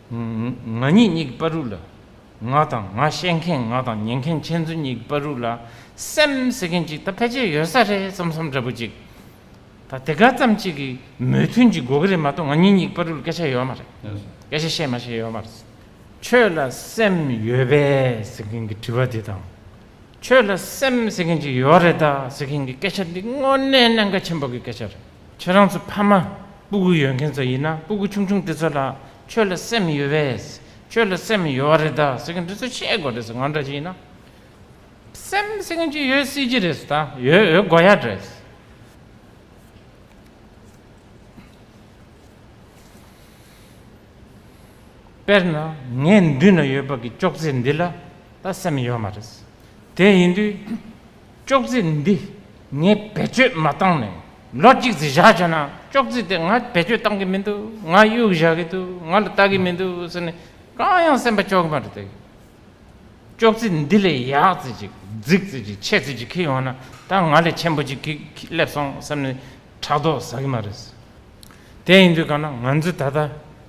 ང་ཉིད་གཉིས་ཀྱི་པར་རུས་ལ། ང་དང་ང་བཤད་མཁན་ང་དང་ཉན་མཁན་ཁྱེད་ཚོ་གཉིས་ཀྱི་པར་རུས་ལ་སེམས་ཟེར་མཁན་ཅིག་ད་ཕལ་ཆེར་ཡོད་ས་རེད་བསམ་བསམ་འདྲ་པོ་ཅིག་ད་དེ་ག་ཙམ་ཅིག་གི་མོས་མཐུན་ཅིག་དགོས་ཀྱི་རེད་མ་གཏོགས་ང་ཉིད་གཉིས་ཀྱི་པར་རུས་ལ་སྐད་ཆ་ཡོད་མ་རེད། སྐད་ཆ་བཤད་མ་བཤད་ཡོད་མ་རེད། ཁྱོད་ལ་སེམས་ཡོད་པས་ཟེར་མཁན་གྱི་དྲི་བ་འདི་དང། ཁྱོད་ལ་སེམས་ཟེར་མཁན་ཅིག་ཡོད་རེད་དཱ་ཟེར་མཁན་གྱི་སྐད་ཆ་འདི་དངོས་གནས་གནད་འགག་ཆེན་པོ་གི་སྐད་ཆ་རེད། ཁྱེད་རང་ཚོ་ཕ་མ་སྤུ་གུ་ཡོད་མཁན་ཚོ་ཡིན་ན་སྤུ་གུ་ཆུང་ཆུང་དེ་ཚོ་ལ་ཆོས་ལ་སེམས་ཡོད་པས་ཆོས་ལ་སེམས་ཡོད་བ་རེད་ད་ཟེར་མཁན་དེ་ཚོ་ཤེས་དགོས་རེད་ང་འདྲ་ཞིག་ཡིན་ན་སེམས་ཟེར་མཁན་ཅིག་ཡོད་སྲིད་ཀྱི་རེད་ད་ཡོད་ཡོད་དགོས་ཡ་རེད། དཔེར་ན་ངའི་མདུན་ན་ཡོད་པ་གི་ཅོག་ཙེ་འདི་ལ་ད་སེམས་ཡོད་མ་རེད་དེ་ཡིན་དུས། ཅོག་ཙེ་འདི་ངས་བེད་སྤྱོད་མ་བཏང་ནས་ལོ་གཅིག་ཙི་བཞག་བྱས་ན་ཅོག་ཙེ་དེ་ང་བེད་སྤྱོད་བཏང་གི་མི་འདུག་ང་གཡུག་བཞག་གི་འདུག་ང་ལ་ལྟ་གི་མི་འདུག་ཟེར་ནས་གང་ཡང་སེམས་པ་སྐྱོ་གི་མ་རེད་དེ། ཅོག་ཙེ་འདི་ལས་ཡག་ཙི་ཅིག་རྫིག་ཙི་ཅིག་ཆད་ཙི་ཅིག་ཁེ་ཡོང་ན་ད་ང་ལས་ཆེན་པོ་ཅིག་གིས་སླེབས་སོང་བསམ་ནས་ཕྲག་དོག་ཟ་གི་མ་རེད། དེ་ཡིན་དུས་གང་ན་ང་ཚོས་ད་ལྟ།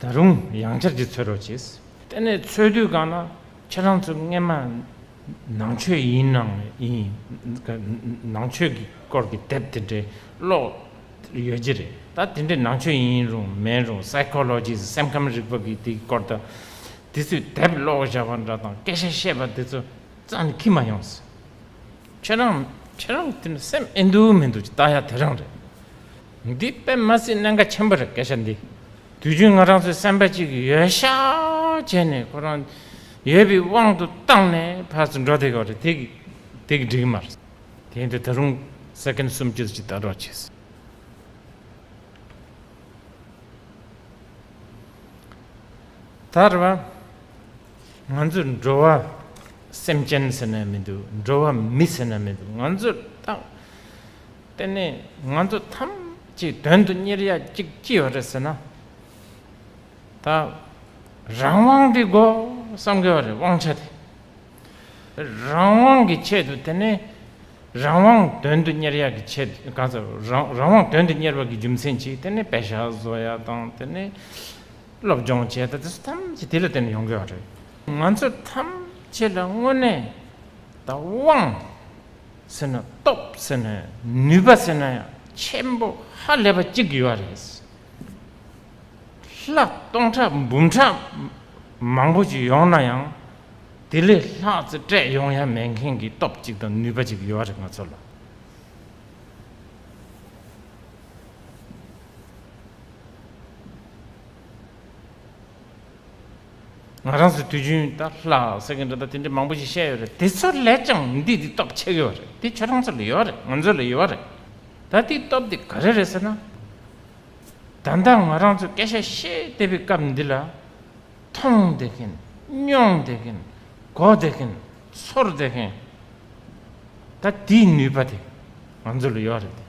ད་རུང་ཡང་བསྐྱར་གྱིས་འཚོལ་རོགས་བྱས། དེ་ནས་འཚོལ་དུས་གང་ལ་ཁྱེད་རང་ཚོ་རྔན་མ་ནང་ཆོས་ཡིན་ནང་ཡིན་ནང་ཆོས་ཀྱི་སྐོར་གྱི་དེབ་དེ་འདྲའི་ཀློག་ཡོད་ཀྱི་རེད་ད་དེ་འདྲའི་ནང་ཆོས་ཡིན་རུང་མིན་རུང Psychology སེམས་ཁམས་རིག་པ་གི་དེ་སྐོར་དང་དེ་ཚོའི་དེབ་ཀློག་བཞག་པ་འདྲ་དང་སྐད་ཆ་བཤད་པ་དེ་ཚོ་རྩ་ནས་ཁྱི་མ་ཡོང་ཟེར། ཁྱེད་རང་ཁྱེད་རང་གི་དེ་ནི་སེམས་ཨེ་འདུག་མི་འདུག་ཅེས་བལྟ་ཡ་དེ་རང་རེད། འདི་དཔེ་མ་སྲིད་གནད་འགག་ཆེན་པོ་རེད་སྐད་ཆ་འདི་དུས་རྒྱུན་ང་རང་ཚོའི་སེམས་པ་གཅིག་གི་ཡོད་ཤག་བྱས་ནས་ཁོ་རང་ཡོད་པའི་དབང་དུ་བཏང་ནས་ཕར་ཚུར་འགྲོ་བསྡད་དགོས་རེད་དེ་དེ་གི་འགྲིག་མ་རེད། དེ་ཡིན་དུས་ད་རུང Second གསུམ་བཅུ་གཅིག་ལྟ་རོགས་བྱས། ད་རེད་བ། ང་ཚོས་འགྲོ་བ་སེམས་ཅན་ཟེར་ན་མི་འདུག་འགྲོ་བ་མི་ཟེར་ན་མི་འདུག་ང་ཚོས་བརྟག་དེ་ནས་ང་ཚོ་ཐམས་ཅད་དོན་དུ་གཉེར་ཡ་གཅིག་ཅི་ཡོད་རེད་ཟེར་ན། ད་རང་དབང་གི་སྒོ་བསམ་གི་བ་རེད་དབང་ཆ་དེ། རང་དབང་གི་ཆེད་དུ་དེ་ནས་རང་དབང་དོན་དུ་གཉེར་ཡ་གི་ཆེད་གང་ཟེར་རང་དབང་དོན་དུ་གཉེར་བ་གི་རྒྱུ་མཚན་གཅིག་དེ་ནས་བེ་ཤ་བཟོ་ཡ་དང་དེ་ནས། སློབ་སྦྱོང་བྱས་ད་དེ་ཐམས་ཅད་དེ་ལ་བརྟེན་ནས་ཡོང་དགོས་པ་རེད། ང་ཚོ་ཐམས་ཅད་ལ་དངོས་གནས་ད་དབང་ཟེར་ན་སྟོབས་ཟེར་ན་ནུས་པ་ཟེར་ན་ཡང་ཆེན་པོ་ཧ་ལས་པ་གཅིག་ཡོད་རེད། ལྷག་སྟོང་ཕྲག་འབུམ་ཕྲག་མང་པོ་ཞིག་ཡོང་ན་ཡང་དེ་ལས་ལྷག་རྩེ་སྤྲད་ཡོང་ཡ་མེད་མཁན་གྱི་སྟོབས་གཅིག་དང་ནུས་པ་གཅིག་ཡོད་རེད་ང་ཚོ་ལ། ང་རང་ཚོས་དུས་རྒྱུན་ད་ལྷ་ཟེར་མཁན་འདྲ་ད་དེ་འདྲ་མང་པོ་ཞིག་བཤད་ཡོད་རེད་དེ་ཚོ་ལས་ཀྱང་འདི་འདི་སྟོབས་ཆེ་གི་བ་རེད་དེ་ཁྱོད་རང་ཚོ་ལ་ཡོད་རེད་ང་ཚོ་ལ་ཡོད་རེད་ད་དེའི་སྟོབས་དེ་ག་རེ་རེད་ཟེར་ན། ད་ལྟ་ང་རང་ཚོས་སྐད་ཆ་བཤད་བསྡད་པའི་སྐབས་འདི་ལ་མཐོང་བསྡད་མཁན་མྱོང་བསྡད་མཁན་གོ་བསྡད་མཁན་ཚོར་བསྡད་མཁན། ད་དེའི་ནུས་པ་དེ་ང་ཚོ་ལ་ཡོད་རེད་དེ།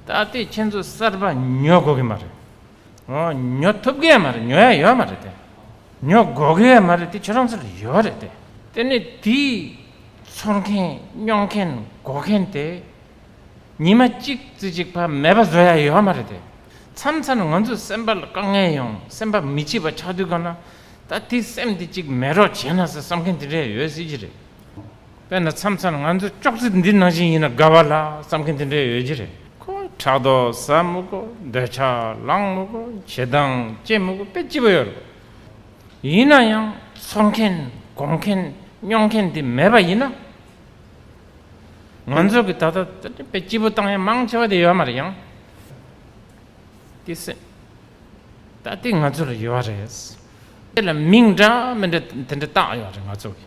ད་ལྟའི་ཁྱེད་ཚོ་གསར་པ་ཉོ་དགོ་གི་མ་རེད། ཉོ་ཐུབ་གི་མ་རེད་ཉོ་ཡ་ཡོད་མ་རེད་དེ། ཉོ་དགོ་གི་ཡ་མ་རེད་དེ་ཁྱོད་རང་ཚོ་ལ་ཡོད་རེད་དེ། དེ་ནི་དེ་ཚོར་མཁན་སྙོང་མཁན་དགོ་མཁན་དེ་ཉི་མ་གཅིག་རྩི་གཅིག་བར་མེད་པ་བཟོ་ཡ་ཡོད་མ་རེད་དེ། མཚམས་མཚམས་ང་ཚོ་སེམས་པ་ལ་དཀའ་ངལ་ཡོང་སེམས་པ་མི་སྐྱིད་པ་ཆགས་དུས་གང་ན་ད་དེ་སེམས་དེ་གཅིག་མེད་རོགས་བྱས་ན་ཟེར་བསམ་མཁན་དེ་འདྲ་ཡོད་སྲིད་ཀྱི་རེད། དཔེར་ན་མཚམས་མཚམས་ང་ཚོས་ཅོག་ཙེ་འདི་ནང་བཞིན་ཡིན་ན་དགའ་བ་ལ་བསམ་མཁན་དེ་འདྲ་ཡོད་ཀྱི་རེད། ཕྲག་དོག་ཟ་མུ་གུ་འདོད་ཆགས་ལངས་མུ་གུ་བྱེད་སྟངས་སྐྱེ་མུ་གུ་དཔེ་ལྕི་པོ་ཡོད་རེད། ཡིན་ན་ཡང་འཚོ་མཁན་སྒོམ་མཁན་སྨྱོ་མཁན་དེ་མེད་པ་ཡིན་ན། ང་ཚོ་གི་ད་ལྟ་དཔེ་ལྕི་པོ་བཏང་ཡ་མང་ཆེ་བ་དེ་ཡོད་མ་རེད་ཡང། དེ་སེམས་ད་དེ་ང་ཚོ་ལ་ཡོད་རེད། དཔེ་ལ་མིང་འདྲ་མི་འདྲ་དེ་འདྲ་བཏགས་ཡོད་རེད་ང་ཚོ་གི།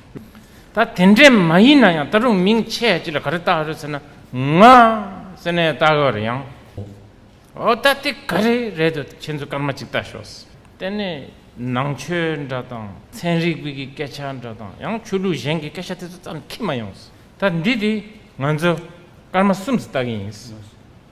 ད་དེ་འདྲས་མ་ཡིན་ན་ཡང་ད་རུང་མིང་ཆད་ཅིག་ལ་ག་རེ་བཏགས་ཡོད་རེད་ཟེར་ན། ང། ཟེར་ནས་བཏགས་ཡོད་རེད་ཡང། འོ་ད་དེ་ག་རེ་རེད་འདོད་ཁྱེད་ཚོས་སྐར་མ་ཅིག་བལྟ་ཞོག། དེ་ནས་ནང་ཆོས་འདྲ་དང་ཚན་རིག་པའི་སྐད་ཆ་འདྲ་དང་ཡང་ཆོས་ལུགས་གཞན་གྱི་སྐད་ཆ་དེ་ཚོ་བརྩམས་ཁྱི་མ་ཡོང། ད་འདི་དེ་ང་ཚོ་སྐར་མ་གསུམ་ཙི་བལྟ་གི་ཡིན།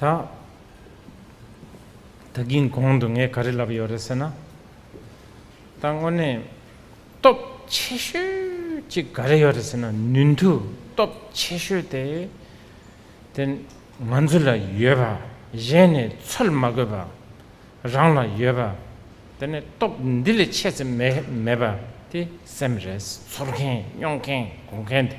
ད། ད་གིན་གོང་དུ་ངས་ག་རེ་ལབ་ཡོད་རེད་ཟེར་ན། ད་དངོས་གནས། སྟོབས་ཆེ་ཤོས་གཅིག་ག་རེ་ཡོད་རེད་ཟེར་ན་ནུས་མཐུ་སྟོབས་ཆེ་ཤོས་དེ། དེ་ང་ཚོ་ལ་ཡོད་པ་གཞན་ནས་འཚོལ་མ་དགོས་པ། རང་ལ་ཡོད་པ། དེ་ནས་སྟོབས་འདི་ལས་ཆེ་ཙམ་མེད་པ་དེ་སེམས་རེས་འཚོལ་མཁན་སྨྱོ་མཁན་སྒོ་མཁན་དེ།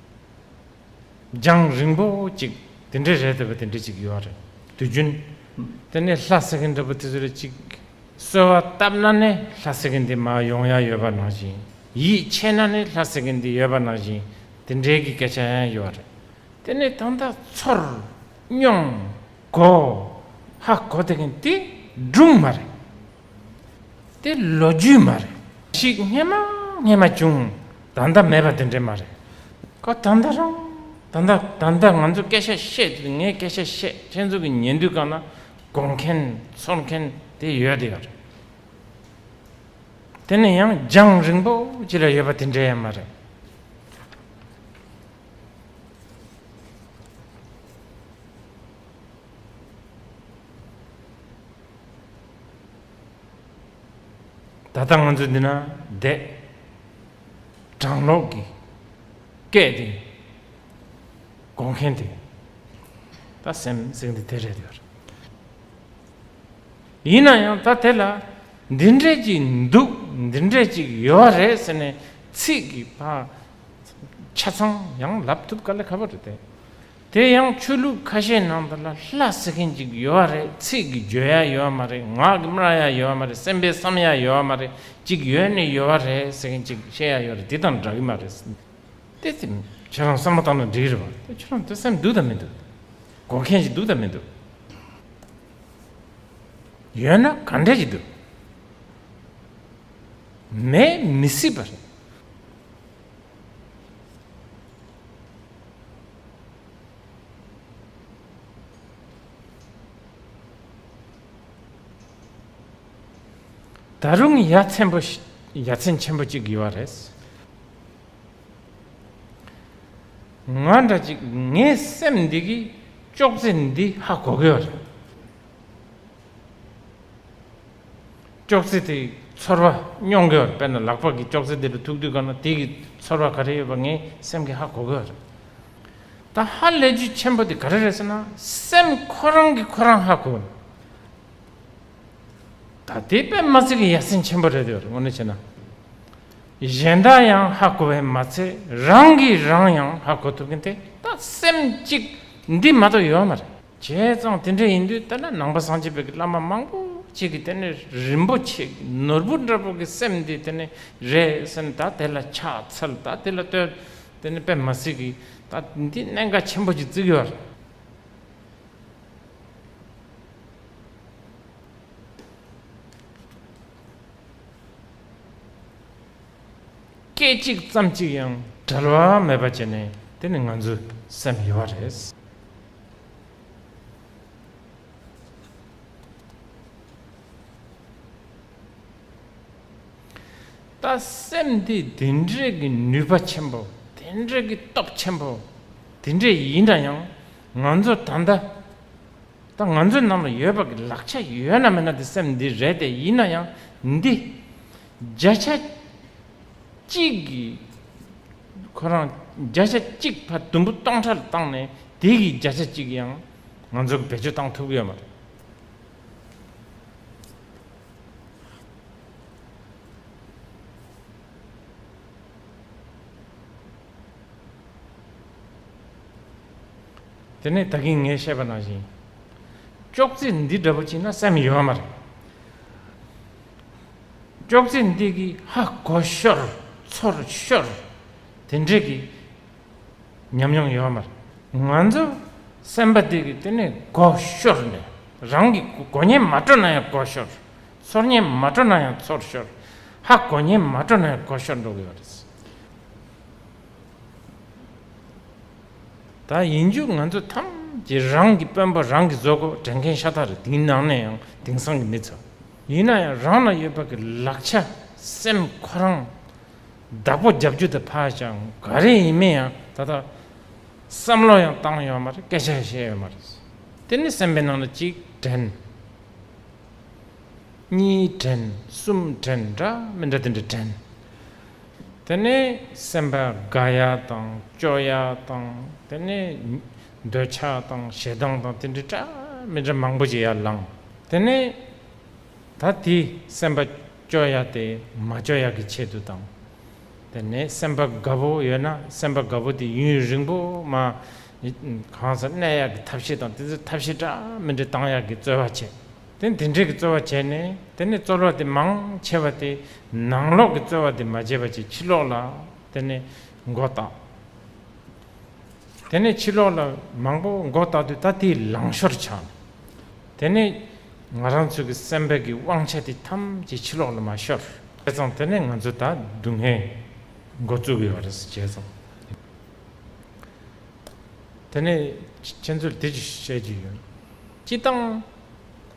རྒྱང་རིང་པོ་ཅིག་དེ་འདྲའི་རེད་ཟེར་བ་དེ་འདྲ་ཅིག་ཡོད་རེད་དུས་རྒྱུན། དེ་ནས་ལྷ་ཟེར་མཁན་འདྲ་པོ་དེ་ཚོ་རེད་ཅིག་གསོལ་བ་བཏབ་ན་ནི་ལྷ་ཟེར་མཁན་དེ་མ་ཡོང་ཡ་ཡོད་པ་ནང་བཞིན་ཡིད་ཆེས་ན་ནི་ལྷ་ཟེར་མཁན་དེ་ཡོད་པ་ནང་བཞིན་དེ་འདྲའི་གི་སྐད་ཆ་ཡང་ཡོད་རེད་དེ་ནས་ད་ལྟ་ཚོར་སྙོམས་གོ་ཧ་གོ་དེ་མཁན་དེ་སྦྲུམ་མ་རེད། དེ་ལོ་རྒྱུས་མ་རེད། ཞིག་སྙན་མ་སྙན་མ་བྱུང་ད་ལྟ་མེད་པ་དེ་འདྲས་མ་རེད། ཀ་ད་ལྟ་རང་ད་ལྟ་ད་ལྟ་ང་ཚོས་སྐད་ཆ་བཤད་དུས་ངས་སྐད་ཆ་བཤད་ཁྱེད་ཚོ་གི་ཉན་དུས་གང་ན་དགོངས་མཁན་ཚོར་མཁན་དེ་ཡོད་དེ་ཡོད་རེད། དེ་ནས་ཡང་རྒྱང་རིང་པོ་ཅི་ལ་ཡོད་པ་དེ་འདྲས་ཡང་མ་རེད། ད་ལྟ་ང་ཚོ་འདི་ན་བསྡད། བགྲང་ལོག་གི་སྐད་དེ་གོ་མཁན་དེ་ད་སེམས་གསེང་དེ་དེ་རེད་ཡོད། ཡིན་ན་ཡང་ད་དེ་ལ་འདི་འདྲས་ཅིག་འདུག་འདི་འདྲས་ཅིག་ཡོད་རེད་ཟེར་ནས་ཚིག་གི་ཆ་ཚང་ཡང་ལབ་ཐུབ་ག་ལ་ག་པོ་རེད་དེ། དེ་ཡང་ཆོས་ལུགས་ཁ་ཤས་ནང་དུ་ལ་ལ་ཟེར་མཁན་ཅིག་ཡོད་བ་རེད་ཚིག་གི་བརྗོད་ཡ་ཡོད་བ་མ་རེད་ངག་གི་སྨྲ་ཡ་ཡོད་བ་མ་རེད་སེམས་པའི་བསམ་ཡ་ཡོད་བ་མ་རེད་ཅིག་ཡོད་ནི་ཡོད་བ་རེད་ཟེར་མཁན་ཅིག་བཤད་ཡ་ཡོད་རེད་དེ་དང་འདྲ་གི་མ་རེད་ཟེར་མཁན་ཅིག་དེ་ཁྱེད་རང་བསམ་བློ་བཏང་ན་འགྲིག་རེད་བ་དེ་ཁྱེད་རང་དེ་སེམས་འདུག་དང་མི་འདུག་གོ་མཁན་ཞིག་འདུག་དང་མི་འདུག་ཡོད་ན་ག་འདྲ་ཞིག་འདུག་མེད་མི་སྲིད་པ་རེད། ད་རུང་ཡ་མཚན་པོ་ཡ་མཚན་ཆེན་པོ་གཅིག་ཡོད་བ་རེད། ང་འདྲ་གཅིག་ངའི་སེམས་འདི་གི་ཅོག་ཙེ་འདི་ཧ་གོ་གི་ཡོད་རེད། ཅོག་ཙེ་དེ་ཚོར་བ་སྙོག་གི་ཡོད་རེད་དཔེར་ན་ལག་པ་གིས་ཅོག་ཙེ་འདེད་དུ་ཐུག་དུས་གང་ན་དེ་གི་ཚོར་བ་ག་རེ་ཡོད་པ་ངའི་སེམས་ཀྱི་ཧ་གོ་གི་ཡོད་རེད། ད་ཧ་ལས་རྒྱུ་ཆེན་པོ་དེ་ག་རེ་རེད་ཟེར་ན་སེམས་ཁོ་རང་གིས་ཁོ་རང་ཧ་གོ་གི་འདུག་ད་དེ་པད་མ་ཚེ་གི་ཡ་སེམས་ཆེན་པོ་རེད་ཡོད་རེད་ངོ་ནས་བྱས་ན་གཞན་དག་ཡང་ཧ་གོ་བས་མ་ཚད་རང་གིས་རང་ཡང་ཧ་གོ་ཐུབ་མཁན་དེ་ད་སེམས་གཅིག་འདི་མ་གཏོགས་ཡོད་མ་རེད། བྱས་ཙང་དེ་འདྲ་ཡིན་དུས་ལྟར་ན་ནང་པ་སངས་རྒྱས་བོད་ཀྱི་བླ་མ་མང་པོ་ཅིག་གིས་དེ་ནི་རིན་པོ་ཆེ་ནོར་བུ་འདྲ་པོ་གི་སེམས་འདི་དེ་ནི་རེད་སེམས་ད་དེ་ལ་ཕྱག་འཚལ་ད་དེ་ལ་བསྟོད་དེ་ནི་པད་མ་སྲིད་ཀྱི་ད་འདི་གནད་འགག་ཆེན་པོ་ཅིག་བརྩི་གི་བར། སྐད་ཅིག་ཙམ་ཅིག་ཡང་བྲལ་བ་མེད་པ་བྱས་ནས་དེ་ནི་ང་ཚོའི་སེམས་ཡོད་པ་རེད། ལྟ་སེམས་དེ་དེ་འདྲའི་གི་ནུས་པ་ཆེན་པོ་དེ་འདྲའི་གི་སྟོབས་ཆེན་པོ་དེ་འདྲ་ཡིན་ན་ཡང་ང་ཚོ་ད་ལྟ་ད་ང་ཚོའི་ནང་ལ་ཡོད་པ་གི་ལག་ཆ་ཡོད་ན་མེད་ན་དེ་སེམས་འདི་རེད་དེ་ཡིན་ན་ཡང་འདི་བརྒྱ་ཆ་གཅིག་གི་ཁོ་རང་བརྒྱ་ཆ་གཅིག་ཕ་དུམ་བུ་སྟོང་ཕྲག་ལ་བཏང་ནས་དེ་གི་བརྒྱ་ཆ་གཅིག་ཡང་ང་ཚོར་བེད་སྤྱོད་བཏང་ཐུབ་ཀྱི་ཡོད་མ་རེད། དེ་ནས་ད་གིན་ངས་བཤད་པ་ནང་བཞིན་ཅོག་ཙེ་འདི་འདྲ་པོ་བྱིན་ན་སེམས་ཡོད་མ་རེད། ཅོག་ཙེ་འདི་གིས་ཧ་གོ་ཤོར་ཚོར་ཤོར་དེ་འདྲས་ཀྱི་ཉམས་མྱོང་ཡོད་མ་རེད། ང་ཚོ་སེམས་པ་འདི་གིས་དེ་ནས་གོ་ཤོར་ནས་རང་གི་གོ་ཉན་མ་སྤྲོ་ན་ཡང་གོ་ཤོར། ཚོར་ཉན་མ་སྤྲོ་ན་ཡང་ཚོར་ཤོར། ཧ་གོ་ཉན་མ་སྤྲོ་ན་ཡང་གོ་ཤོར་འགྲོ་གི་ཡོད་རེད། ད་ཡིན་རྒྱུ་ང་ཚོ་ཐམས་ཅད་རང་གི་དཔོན་པོ་རང་གིས་བཟོ་དགོས་དྲན་མཁན་ཤ་སྟག་རེད་དེའི་ནང་ནས་ཡང་དེང་སང་གི་མི་ཚོ། ཡིན་ན་ཡང་རང་ལ་ཡོད་པ་གི་ལག་ཆ་སེམས་ཁོ་རང་བདག་པོ་རྒྱབ་རྒྱུ་དེ་ཕ་ཞང་ག་རེ་ཡིན་མིན་ཡང་ད་ལྟ་བསམ་བློ་ཡང་བཏང་ཡོད་མ་རེད་སྐད་ཆ་ཡང་བཤད་ཡོད་མ་རེད་དེ་ནི་སེམས་པའི་ནང་ལ་གཅིག་དྲན། གཉིས་དྲན་གསུམ་དྲན་འདྲ་མི་འདྲ་དེ་འདྲ་དྲན། དེ་ནི་སེམས་པ་དགའ་ཡག་དང་སྐྱོ་ཡག་དང་དེ་ནི་འདོད་ཆགས་དང་ཞེ་སྡང་དང་དེ་འདྲའི་སྤྲ་མི་འདྲ་མང་པོ་ཅི་ཡར་ལངས། དེ་ནས་ད་དེ་སེམས་པ་སྐྱོ་ཡ་དེ་མ་སྐྱོ་ཡ་གི་ཆེད་དུ་དང། དེ་ནས་སེམས་པ་དགའ་པོ་ཡོད་ན་སེམས་པ་དགའ་པོ་དེ་ཡུན་རིང་པོ་མ་གང་སར་གནས་ཡ་གི་ཐབས་ཤེས་དང་དེ་ཚོའི་ཐབས་ཤེས་སྤྲ་མི་འདྲ་བཏང་ཡ་གི་རྩོལ་བ་བྱེད། དེ་དེ་འདྲའི་གི་རྩོལ་བ་བྱས་ནས་དེ་ནས་རྩོལ་བ་དེ་མང་ཆེ་བ་དེ་ནང་ལོག་གི་རྩོལ་བ་དེ་མ་བྱས་པ་ཅིག་ཕྱི་ལོག་ལ་དེ་ནས་མགོ་བཏགས། དེ་ནས་ཕྱི་ལོགས་ལ་མང་པོ་མགོ་བཏགས་དུས་ད་དེའི་ལང་ཤོར་ཆགས། དེ་ནས་ང་རང་ཚོའི་གི་སེམས་པའི་གི་དབང་ཆ་དེ་ཐམས་ཅད་ཕྱི་ལོགས་ལ་མ་ཤོར། བྱས་ཙང་དེ་ནས་ང་ཚོ་ད་སྡུག་བསྔལ་མགོ་བཙུགས་ཡོད་རེད་བྱས་ཙང། དེ་ནས་ཁྱེད་ཚོར་དེ་ཅིག་བཤད་རྒྱུ་ཡོད། སྤྱི་དང།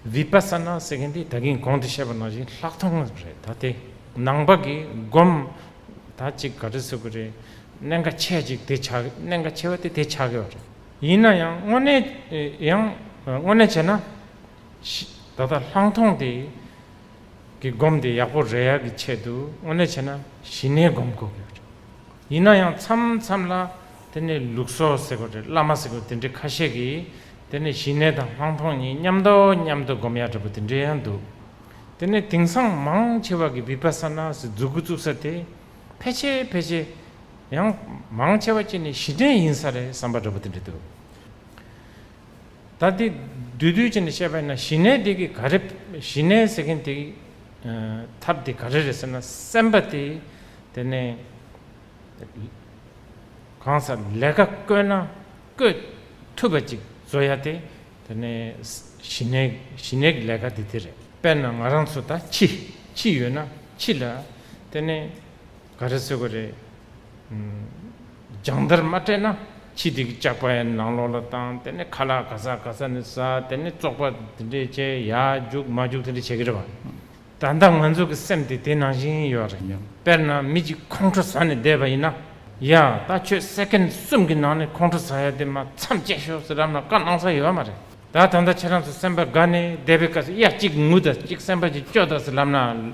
Vipassana ཟེར་མཁན་དེ་ད་གིན་གོང་དུ་བཤད་པ་ནང་བཞིན་ལྷག་མཐོང་རེད་ད་དེ་ནང་པ་གི་སྒོམ། ད་ཅིག་ག་རེ་ཟེར་གི་རེད། གནད་འགའ་ཆེ་ཅིག་དེ་ཆགས་གི་གནད་འགའ་ཆེ་བ་དེ་དེ་ཆགས་གི་རེད། ཡིན་ན་ཡང་དངོས་གནས་ཡང་དངོས་གནས་བྱས་ན། ད་ལྟ་ལྷང་མཐོང་དེ་གི་སྒོམ་དེ་ཡག་པོ་རེད་ཡ་གི་ཆེད་དུ་དངོས་གནས་བྱས་ན་ཞི་གནས་སྒོམ་དགོས་གི་རེད། ཡིན་ན་ཡང་མཚམས་མཚམས་ལ་དེ་ནས་ལུགས་སོ་ཟེར་གི་རེད་བླ་མ་ཟེར་གི་དེ་འདྲའི་ཁ་ཤས་ཀྱིས་དེ་ནས་ཞི་གནས་དང་ལྷང་མཐོང་གཉིས་མཉམ་དུ་མཉམ་དུ་སྒོམ་ཡག་འདྲ་པོ་དེ་འདྲའི་ཡང་འདུག། དེ་ནས་དེང་སང་མང་ཆེ་བ་གི་བི་པ་སཱ་ནཱ་སི་འཛུགས་བཙུགས་ས་དེ་ཕལ་ཆེ་ཕལ་ཆེ་ཡང་མང་ཆེ་བ་གཅིག་ནས་གཞི་རྟེན་ཡིན་ས་རེད་བསམ་པ་འདྲ་པོ་དེ་འདྲ་འདུག་ད་དེ་འདུས་འདུས་གཅིག་ནས་བཤད་པ་ཡིན་ན་གཞི་ནས་དེ་གི་ག་རེ་གཞི་ནས་ཟེར་མཁན་དེ་གི་ཐབས་དེ་ག་རེ་རེད་ཟེར་ན་སེམས་པ་དེ་དེ་ནས་གང་སར་ལས་ཀ་བསྐོས་ན་བསྐོས་ཐུབ་པ་ཅིག་བཟོ་ཡ་དེ་དེ་ནས་ཞི་གནས་ཞི་གནས་ཀྱི་ལས་ཀ་དེ་དེ་རེད། དཔེར་ན་ང་རང་ཚོ་ད་འཆི། འཆི་ཡོད་ན་འཆི་ལ། དེ་ནས་ག་རེ་ཟེར་དགོས་རེད། སྦྱང་བརྡར་མ་སྤྲད་ན་འཆི་དེ་གི་ལྕགས་པའི་ནང་ལོགས་ལ་བཏང་དེ་ནས་ཁ་ལག་ག་ས་ག་ས་ནས་ཟ་དེ་ནས་བཙོག་པ་དེ་འདྲས་བྱས་ཡག་རྒྱུགས་མ་རྒྱུགས་དེ་འདྲས་བྱེད་ཀྱི་རེད་བ། ད་ལྟ་ང་ཚོ་གི་སེམས་དེ་དེ་ནང་བཞིན་ཡོད་རེད་སྙམ། དཔེར་ན་མི་གཅིག་ཁོང་ཁྲོ་ཟ་ནས་བསྡད་པ་ཡིན་ན། ཡ། ད་ཁྱོད་སེཀེན་གསུམ་གྱི་ནང་ནས་ཁོང་ཁྲོ་ཟ་ཡ་དེ་མ་མཚམས་བཅད་ཤོག་ཟེར་རམ་ན་བཀའ་གནང་ས་ཡོད་མ་རེད། ད་ད་ལྟ་ཁྱེད་རང་ཚོ་སེམས་པ་དགའ་ནས་བསྡད་པའི་སྐབས་སུ་ཡ་གཅིག་ངུ་ད་གཅིག་སེམས་པ་ཅིག་སྐྱོ་ད་ཟེར་རམ་ན།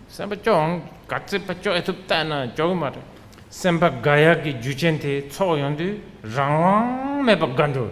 སེམས་པ་སྐྱོ་འང་དགའ་སེམས་པ་སྐྱོ་ཨེ་ཐུབ་བལྟས་ན་སྐྱོ་གི་མ་རེད། སེམས་པ་དགའ་ཡག་གི་རྒྱུ་ཆེན་དེ་ཚོགས་ཡོང་དུས་རང་དབང་མེད་པ་དགའ་འགྲོ།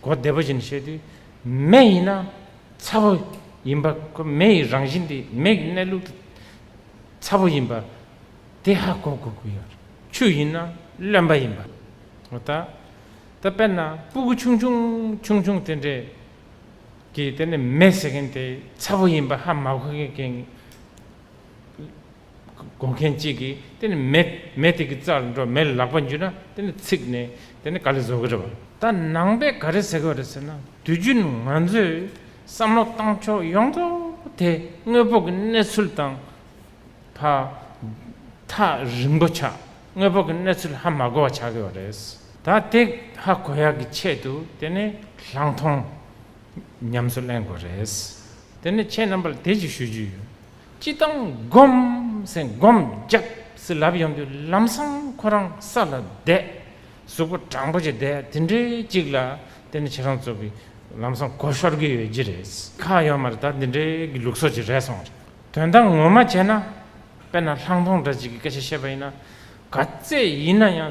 གོ་བདེ་པོ་བཞིན་བཤད་དུས། མེ་ཡིན་ན་ཚ་བོ་ཡིན་པ་ཁོ་མེ་ཡི་རང་བཞིན་དེ་མེ་གི་གནས་ལུགས་དེ་ཚ་བོ་ཡིན་པ་དེ་ཧ་གོ་དགོས་ཀྱི་ཡོད། ཆུ་ཡིན་ན་རློན་པ་ཡིན་པ་ངོ་ཐག་ད་དཔེར་ན་སྤུ་གུ་ཆུང་ཆུང་ཆུང་ཆུང་དེ་འདྲས་ཀྱིས་དེ་ནི་མེ་ཟེར་མཁན་དེ་ཚ་བོ་ཡིན་པ་ཧ་མ་གོ་མཁན་བགོ་མཁན་གཅིག་གིས་དེ་ནི་མེད། མེད་དེ་གི་རྩར་འགྲོ་མེད་ལག་པ་འཇུས་ན་དེ་ནི་ཚིག་ནི་དེ་ནི་ག་ལས་བཟོ་གི་རེད་བ། ད་ནང་པས་ག་རེ་ཟེར་གི་རེད་ཟེར་ན་དུས་རྒྱུན་ང་ཚོས་བསམ་བློ་བཏང་ཕྱོགས་ཡོངས་རྫོགས་དེ་དངོས་པོ་གི་གནས་ཚུལ་དང་ཕ་མཐའ་རིང་པོ་ཆགས་དངོས་པོ་གི་གནས་ཚུལ་ཧ་མ་གོ་བ་ཆགས་ཡོད་རེད། ད་དེ་ཧ་གོ་ཡག་གི་ཆེད་དུ་དེ་ནི་ལྷག་མཐོང་ཉམས་སུ་ལེན་དགོས་རེད། དེ་ནི་ཁྱེད་རྣམ་པར་དེ་གཅིག་ཞུ་རྒྱུ་ཡོད། སྤྱི་དང་སྒོམ་ཟས་སྒོམ་རྒྱབས་སུ་ལབ་ཡོང་དུས་ལམ་སང་ཁོ་རང་ས་ལ་བསྡད། གཟུགས་པོ་སྦྲང་པོ་ཅིག་བསྡད་དེ་འདྲའི་ཅིག་ལ་དེ་ནི་ཁྱེད་རང་ཚོ་གི་ལམ་སང་གོ་ཤོར་གི་ཡོད་ཀྱི་རེད། ཁ་ཡོད་མར་ད་འདི་འདྲའི་གི་ལུགས་སྲོལ་ཅིག་རེད་སོང་རེད། དོན་དག་ངོ་མ་བྱས་ན་དཔེར་ན་ལྷང་མཐོང་འདྲ་ཅིག་གི་སྐད་ཆ་བཤད་པ་ཡིན་ན་ག་ཚད་ཡིན་ན་ཡང་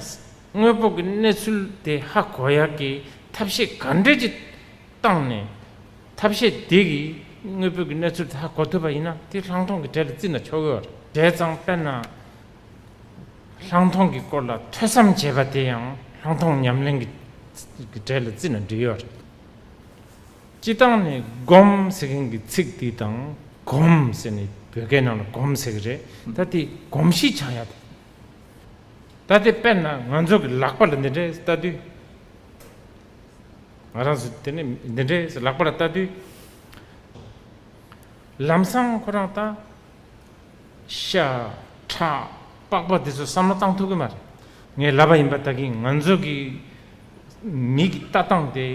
དངོས་པོ་གི་གནས་ཚུལ་དེ་ཧ་གོ་ཡག་གི་ཐབས་ཤེས་ག་འདྲས་ཅིག་བཏང་ནས་ཐབས་ཤེས་དེ་གིས་དངོས་པོའི་གནས་ཚུལ་དག་གོ་ཐུབ་པ་ཡིན་ན་དེ་ལྷག་མཐོང་གི་གྲལ་ལ་བརྩིས་ན་ཆོག་གི་རེད་ཙང་དཔེར་ན། ལྷག་མཐོང་གི་སྐོར་ལ་ཐོས་བསམ་བྱས་པ་དེ་ཡང་ལྷག་མཐོང་ཉམས་ལེན་གྱི་གྲལ་ལ་བརྩིས་ན་འགྲིག་གི་རེད། སྤྱི་བཏང་ནི་སྒོམ་ཟེར་མཁན་གྱི་ཚིག་དེ་དང་གོམ་ཟེར་ནི་བོད་སྐད་ནང་ལ་གོམས་ཟེར་གི་རེད་ད་དེ་གོམས་གཤིས་ཆགས་ཡ་དེ། ད་དེ་དཔེར་ན་ང་ཚོ་གི་ལག་པ་ལ་འདི་འདྲའི་ལྟ་དུས། ང་རང་ཚོ་དེ་ནས་འདི་འདྲའི་ལག་པ་ལ་ལྟ་དུས། ལམ་སང་ཁོ་རང་ལྟ། ཤ། ཁྲག། པགས་པ་འདི་ཚོ་བསམ་བློ་བཏང་ཐུབ་གི་མ་རེད། ངས་ལབ་པ་ཡིན་པ་ལྟ་གིན་ང་ཚོ་གི། མིག་གི་ལྟ་སྟངས་དེ།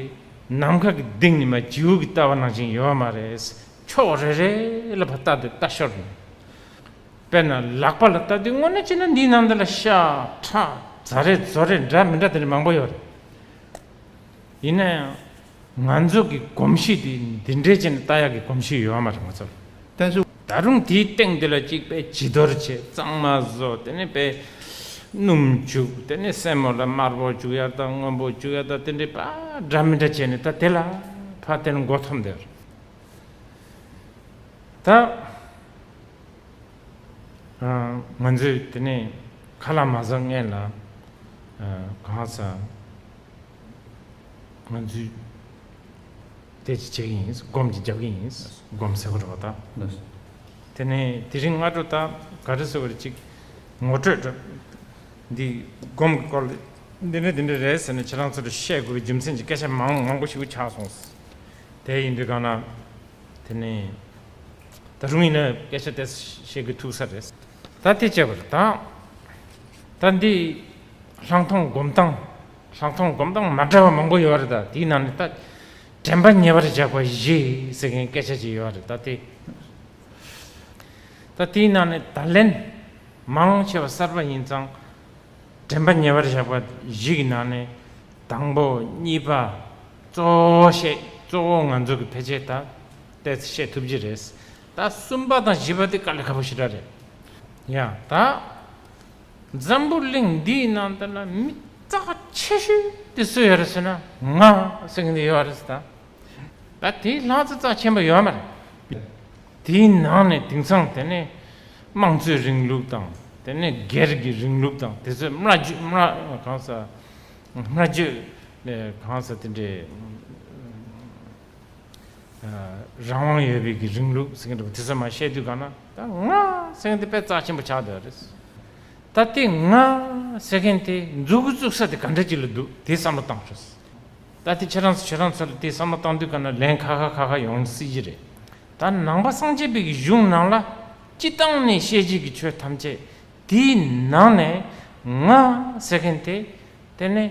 ནམ་མཁའ་གི་ལྡིང་ནི་མ་བྱིའུ་གི་ལྟ་བ་ནང་བཞིན་ཡོད་མ་རེད། ཕྱོགས་རེ་རེ་ལ་བ་ལྟ་དུས་ལྟ་ཞོར་ཡིན། དཔེར་ན་ལག་པ་ལ་ལྟ་དུས་དངོས་གནས་ཅི་ན་འདིའི་ནང་འདི་ལ་ཤ། ཁྲག། རྫ་རེ་རྫོ་རེ་འདྲ་མི་འདྲ་དེ་འདྲ་མང་པོ་ཡོད་རེད། ཡིན་ན་ཡང་ང་ཚོ་གི་གོམས་གཤིས་དེ་འདི་འདྲའི་ཆེ་ནས་རྟ་ཡག་གི་གོམས་གཤིས་ཡོད་མ་རེད་ང་ཚོར་བསྟན་ཚུལ། ད་རུང་དེའི་སྟེང་དེ་ལ་གཅིག་པས་བྱི་དོར་བྱས་གཙང་མ་བཟོ་དེ་ནས་པས་སྣུམ་བྱུག་དེ་ནས་སྲན་མོ་ལ་དམར་པོ་བྱུག་ཡར་དང་སྔོན་པོ་བྱུག་ཡར་དང་དེ་འདྲའི་པ་འདྲ་མི་འདྲ་བྱས་ནས་ད་དེ་ལ་ཕ་དེ་ལ་མགོ་འཐོམས་དེར་ད། ང་ཚོས་དེ་ནས་ཁ་ལ་མ་བཟའ་མངལ་ལ་གང་ཟ། ང་ཚོས་དེ་ཅི་བྱེད་ཀྱི་ཡིན་སྒོམ་གྱི་རྒྱབ་ཀྱི་ཡིན་སྒོམ་ཟེར་བ་རོ་ད། དེ་ནས་དེ་རིང་སྔ་དྲོ་ད་ག་རེ་ཟེར་བ་རེ་ཅིག་ངོ་སྤྲོད་འདྲ། འདི་སྒོམ་གྱི་སྐོར་ལས་འདི་འདྲ་འདི་འདྲ་རེད་ཟེར་ནས་ཁྱེད་རང་ཚོ་ལ་བཤད་དགོས་པའི་རྒྱུ་མཚན་གྱི་སྐད་ཆ་མང་པོ་ཞིག་ཆགས་སོང། དེ་ཡིན་དུས་གང་ན་དེ་ནས། ད་རུང་ཡིན་ན་སྐད་ཆ་དེ་བཤད་གི་ཐུག་ས་རེད། ད་དེ་བྱས་པ་རེད། ད་འདི་ལྷག་མཐོང་སྒོམ་སྟངས་ལྷག་མཐོང་སྒོམ་སྟངས་མ་འདྲ་བ་མང་པོ་ཡོད་རེད་ད་དེའི་ནང་ནས་ད་དྲན་པ་ཉེ་བར་བཞག་པ་བཞི་ཟེར་མཁན་སྐད་ཆ་ཅིག་ཡོད་རེད་ད་དེ། ད་དེའི་ནང་ནས་ད་ལན་མང་ཆེ་བ་གསར་པ་ཡིན་ཙང་དྲན་པ་ཉེ་བར་བཞག་པ་བཞི་གི་ནང་ནས་དང་པོ་གཉིས་པ་གཙོ་བོ་བཤད་གཙོ་བོ་ང་ཚོ་གི་ཕལ་ཆེར་ད་དེ་བཤད་ཐུབ་རྒྱུ་རེད། ད་གསུམ་པ་དང་བཞི་པ་དེ་དཀའ་ལས་ཁ་པོ་ཞེ་དྲག་རེད། ཡང་ད། འཛམ་བུ་གླིང་འདིའི་ནང་དུ་ན་མི་རྩ་བ་ཆེ་ཤོས་དེ་སུ་ཡོད་རེད་ཟེར་ན་ང་ཟེར་མཁན་དེ་ཡོད་རེད་ཟེར། ད་དེའི་ལྷག་བཙན་རྩ་ཆེན་པོ་ཡོད་མ་རེད། དེའི་ནང་ནས་དེང་སང་དེ་ནས་དམངས་གཙོའི་རིང་ལུགས་དང་དེ་ནས་སྒེར་གྱི་རིང་ལུགས་དང་དེ་ཚོས་སྨྲ་བརྗོད་སྨྲ་གང་ཟེར། སྨྲ་བརྗོད་ལས་གང་ཟེར་དེ་འདྲའི། རང་དབང་ཡོད་པའི་གི་རིང་ལུགས་ཟེར་གྱི་འདུག་གོ་དེ་ཚོ་མ་བཤད་དུས་གང་ན་ད་ང་ཟེར་མཁན་དེ་དཔེ་རྩ་ཆེན་པོ་ཆགས་འདུག་རེད། ད་དེ་ང་ཟེར་མཁན་དེ་འཛུགས་གི་བཙུགས་ས་དེ་ག་འདྲ་ཅིག་ལ་འདུག་དེ་བསམ་བློ་བཏང་ཆོག་སྲིད། ད་དེ་ཁྱེད་རང་ཚོ་ཁྱེད་རང་ཚོ་ལ་དེ་བསམ་བློ་བཏང་དུས་གང་ན་ལན་ཁ་ཁ་ཁ་ཁ་ཡོང་སྲིད་ཀྱི་རེད། ད་ནང་པ་སངས་རྒྱས་པའི་གི་གཞུང་ནང་ལ་སྤྱི་བཏང་ནས་བཤད་རྒྱུ་གི་ཆོས་ཐམས་ཅད་དེའི་ནང་ནས་ང་ཟེར་མཁན་དེ་དེ་ནས་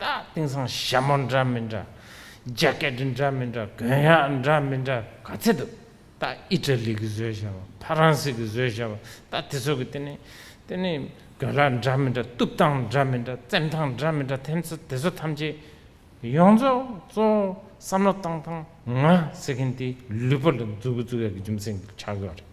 ད་དེང་སང་ཞྭ་མོ་འདྲ་མི་འདྲ། རྒྱ་སྐད་འདྲ་འདྲ་མི་འདྲ་དགོན་ཡག་འདྲ་མི་འདྲ་ག་ཚད་འདུག་ད་ཨི་ཏྲ་ལི་གི་བཟོས་ཞྭ་མོ་ཕ་རང་སི་གི་བཟོས་ཞྭ་མོ་ད་དེ་ཚོ་གི་དེ་ནི་དེ་ནི་དགོན་ལག་འདྲ་མི་འདྲ་གཏུབ་སྟངས་འདྲ་མི་འདྲ་བཙེམ་སྟངས་འདྲ་མི་འདྲ་དེ་ཚོ་དེ་ཚོ་ཐམས་ཅད་ཡོངས་རྫོགས་གཙོ་བོ་བསམ་བློ་བཏང་བཏང་ང་ཟེར་མཁན་དེ་ལུས་པོ་ལ་འཛུགས་ཀྱི་འཛུགས་ཡག་གི་རྒྱུ་མཚན་ཆགས་ཡོད་རེད།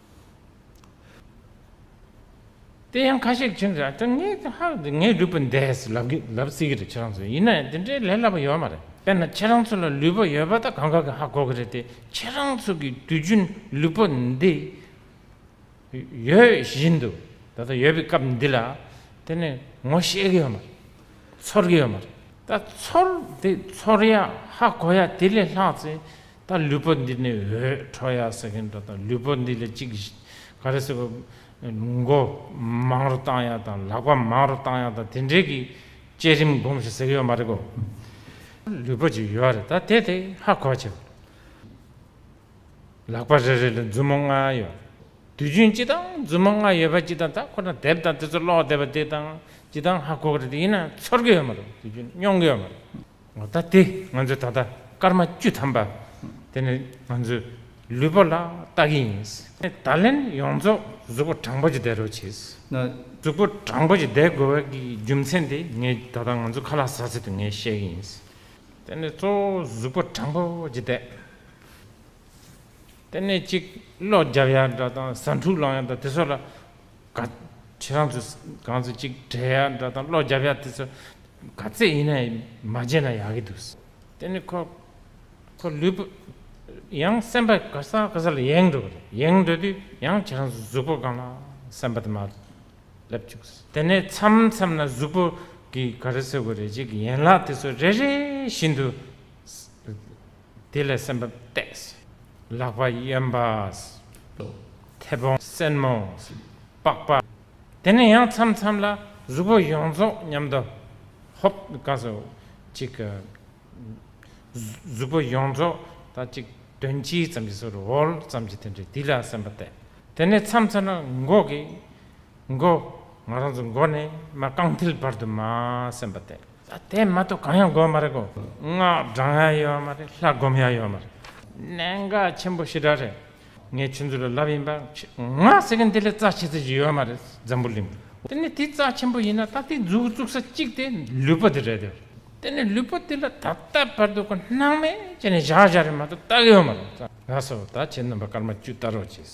དེ་ཡང་ཁ་ཤས་ཁྱིམ་བཟའ་དེ་ངའི་དེ་ཧ་ལས་ངའི་ལུས་པོ་འདས་ལབ་གི་ལབ་སྲིད་ཀྱི་རེད་ཁྱེད་རང་ཚོས་ཡིན་ནའི་དེ་འདྲའི་ལས་སླ་པོ་ཡོད་མ་རེད་དཔེར་ན་ཁྱེད་རང་ཚོ་ལ་ལུས་པོ་ཡོད་པ་དང་གང་ག་གི་ཧ་གོ་གི་རེད་དེ་ཁྱེད་རང་ཚོ་གི་དུས་རྒྱུན་ལུས་པོ་འདི་ཡོད་བཞིན་དུ་ད་ལྟ་ཡོད་པའི་སྐབས་འདི་ལ་དེ་ནི་ངོ་ཤེས་གི་ཡོད་མ་རེད་ཚོར་གི་ཡོད་མ་རེད་ད་ཚོར་དེ་ཚོར་ཡ་ཧ་གོ་ཡ་དེ་ལས་ལྷག་ཚེ་ད་ལུས་པོ་འདི་ནི་འོད་འཕྲོ་ཡག་ཟེར་མཁན་འདྲ་དང་ལུས་པོ་འདི་ལ་ཅིག་ག་རེ་ཟེར་བ། མགོ་མང་རུ་བཏང་ཡག་དང་ལག་པ་མང་རུ་བཏང་ཡག་དང་དེ་འདྲའི་གི་བསྐྱེད་རིམ་སྒོམ་ཞིག་ཟེར་གི་ཡོད་མ་རེད་གོ། ལུས་པོ་ཅིག་ཡོད་རེད་ད་དེ་དེ་ཧ་གོ་བྱས་པ། ལག་པ་རེ་རེ་ལ་མཛུབ་མོ་ལྔ་ཡོད། དུས་རྒྱུན་སྤྱི་དང་མཛུབ་མོ་ལྔ་ཡོད་པ་སྤྱི་དང་ད་ཁོ་ན་དེབ་དང་དེ་ཚོ་ཀློག་བསྡད་པ་དེ་དང་སྤྱི་དང་ཧ་གོ་གི་རེད་དེ་ཡིན་ན་ཚོར་གི་ཡོད་མ་རེད་དུས་རྒྱུན་མྱོང་གི་ཡོད་མ་རེད། ངོ་ཚ་སྟེ་ང་ཚོས་ད་ལྟ་སྐར་མ་བཅུ་ཐམ་པ་དེ་ནི་ང་ཚོའི་ལུས་པོ་ལ་བལྟ་གི་ཡིན། ད་ལན་ཡོངས་རྫོགས་གཟུགས་པོ་དྲང་པོ་ཅིག་བསྡད་རོགས་བྱོས། གཟུགས་པོ་དྲང་པོ་ཅིག་བསྡད་དགོས་པའི་རྒྱུ་མཚན་དེ་ངས་ད་ལྟ་ང་ཚོ་ཁ་ལག་ཟ་ཟི་དུ་ངས་བཤད་གི་ཡིན། དེ་ནི་གཙོ་བོ་གཟུགས་པོ་དྲང་པོ་ཅིག་བསྡད། དེ་ནས་ཅིག་གློག་རྒྱབ་ཡ་འདྲ་དང་ཟ་འཕྲུག་ལངས་ཡ་འདྲ་དེ་ཚོ་ལ་ག་ཁྱེད་རང་ཚོས་གང་ཚོད་ཅིག་བྲེལ་ཡག་འདྲ་དང་བློ་རྒྱ་ཕྱག་དེ་ཚོ་ག་ཚད་ཡིན་ན་མ་བརྗེད་ན་ཡག་གི་འདུག་དེ་ནི་ཁོ་ཁོ་ལུས་པོ་ཡང་སེམས་པ་ག་ས་ག་ས་ལ་ཡེངས་འགྲོ་གི་རེད་ཡེངས་འགྲོ་དུས་ཡང་ཁྱེད་རང་ཚོ་གཟུགས་པོ་གང་ལ་སེམས་པ་དེ་མ་སླེབས་ཅུག་དེ་ནས་མཚམས་མཚམས་ན་གཟུགས་པོ་གིས་ག་རེ་ཟེར་དགོས་རེད་ཅེས་ཀྱི་ཡན་ལག་དེ་ཚོ་རེ་རེ་བཞིན་དུ། དེ་ལས་སེམས་པ་གཏད། ལག་པ་གཡོན་པ། མཐེ་བོང་སེན་མོ། པགས་པ། དེ་ནས་ཡང་མཚམས་མཚམས་ལ་གཟུགས་པོ་ཡོངས་རྫོགས་མཉམ་དུ། ཧཱུྃ། གཅིག། གཟུགས་པོ་ཡོངས་རྫོགས་དང་གཅིག། དོན་སྤྱི་ཙམ་གྱི་སོར་འོལ་ཙམ་གྱི་དོན་དྲིལ་དེ་ལ་སེམས་པ་གཏད། དེ་ནས་མཚམས་མཚམས་ལ་མགོ་གི། མགོ། ང་རང་ཚོ་མགོ་ནས་མ་རྐང་མཐིལ་བར་དུ་མ་སེམས་པ་དེ། དེ་མ་གཏོགས་གང་ཡང་དགོས་མ་རེད་གོ། སྔགས་བགྲང་ཡ་ཡོད་མ་རེད་ལྷ་སྒོམ་ཡ་ཡོད་མ་རེད། གནད་འགག་ཆེན་པོ་ཞེ་དྲག་རེད། ངས་ཁྱོད་ཚོ་ལ་ལབ་ཡིན་པ། སྔགས་ཟེར་མཁན་དེ་ལས་རྩ་ཆེ་ཚོད་ཅིག་ཡོད་མ་རེད་འཛམ་བུ་གླིང། དེ་ནས་དེ་རྩ་ཆེན་པོ་ཡིན་ན་ད་དེ་འཛུགས་བཙུགས་ས་གཅིག་དེ་ལུས་པོ་དེ་རེད་དེ། དེ་ནས་ལུས་པོ་དེ་ལ་ད་ལྟ་བར་དུ་གོ་སྣང་མེད་ཅེས་ནས་བཞག་བཞག་རེད་མ་གཏོགས་རྟགས་ཡོད་མ་རེད། ལགས་སོ་ད་ཁྱེད་རྣམ་པ་སྐར་མ་བཅུ་བལྟ་རོགས་གྱིས།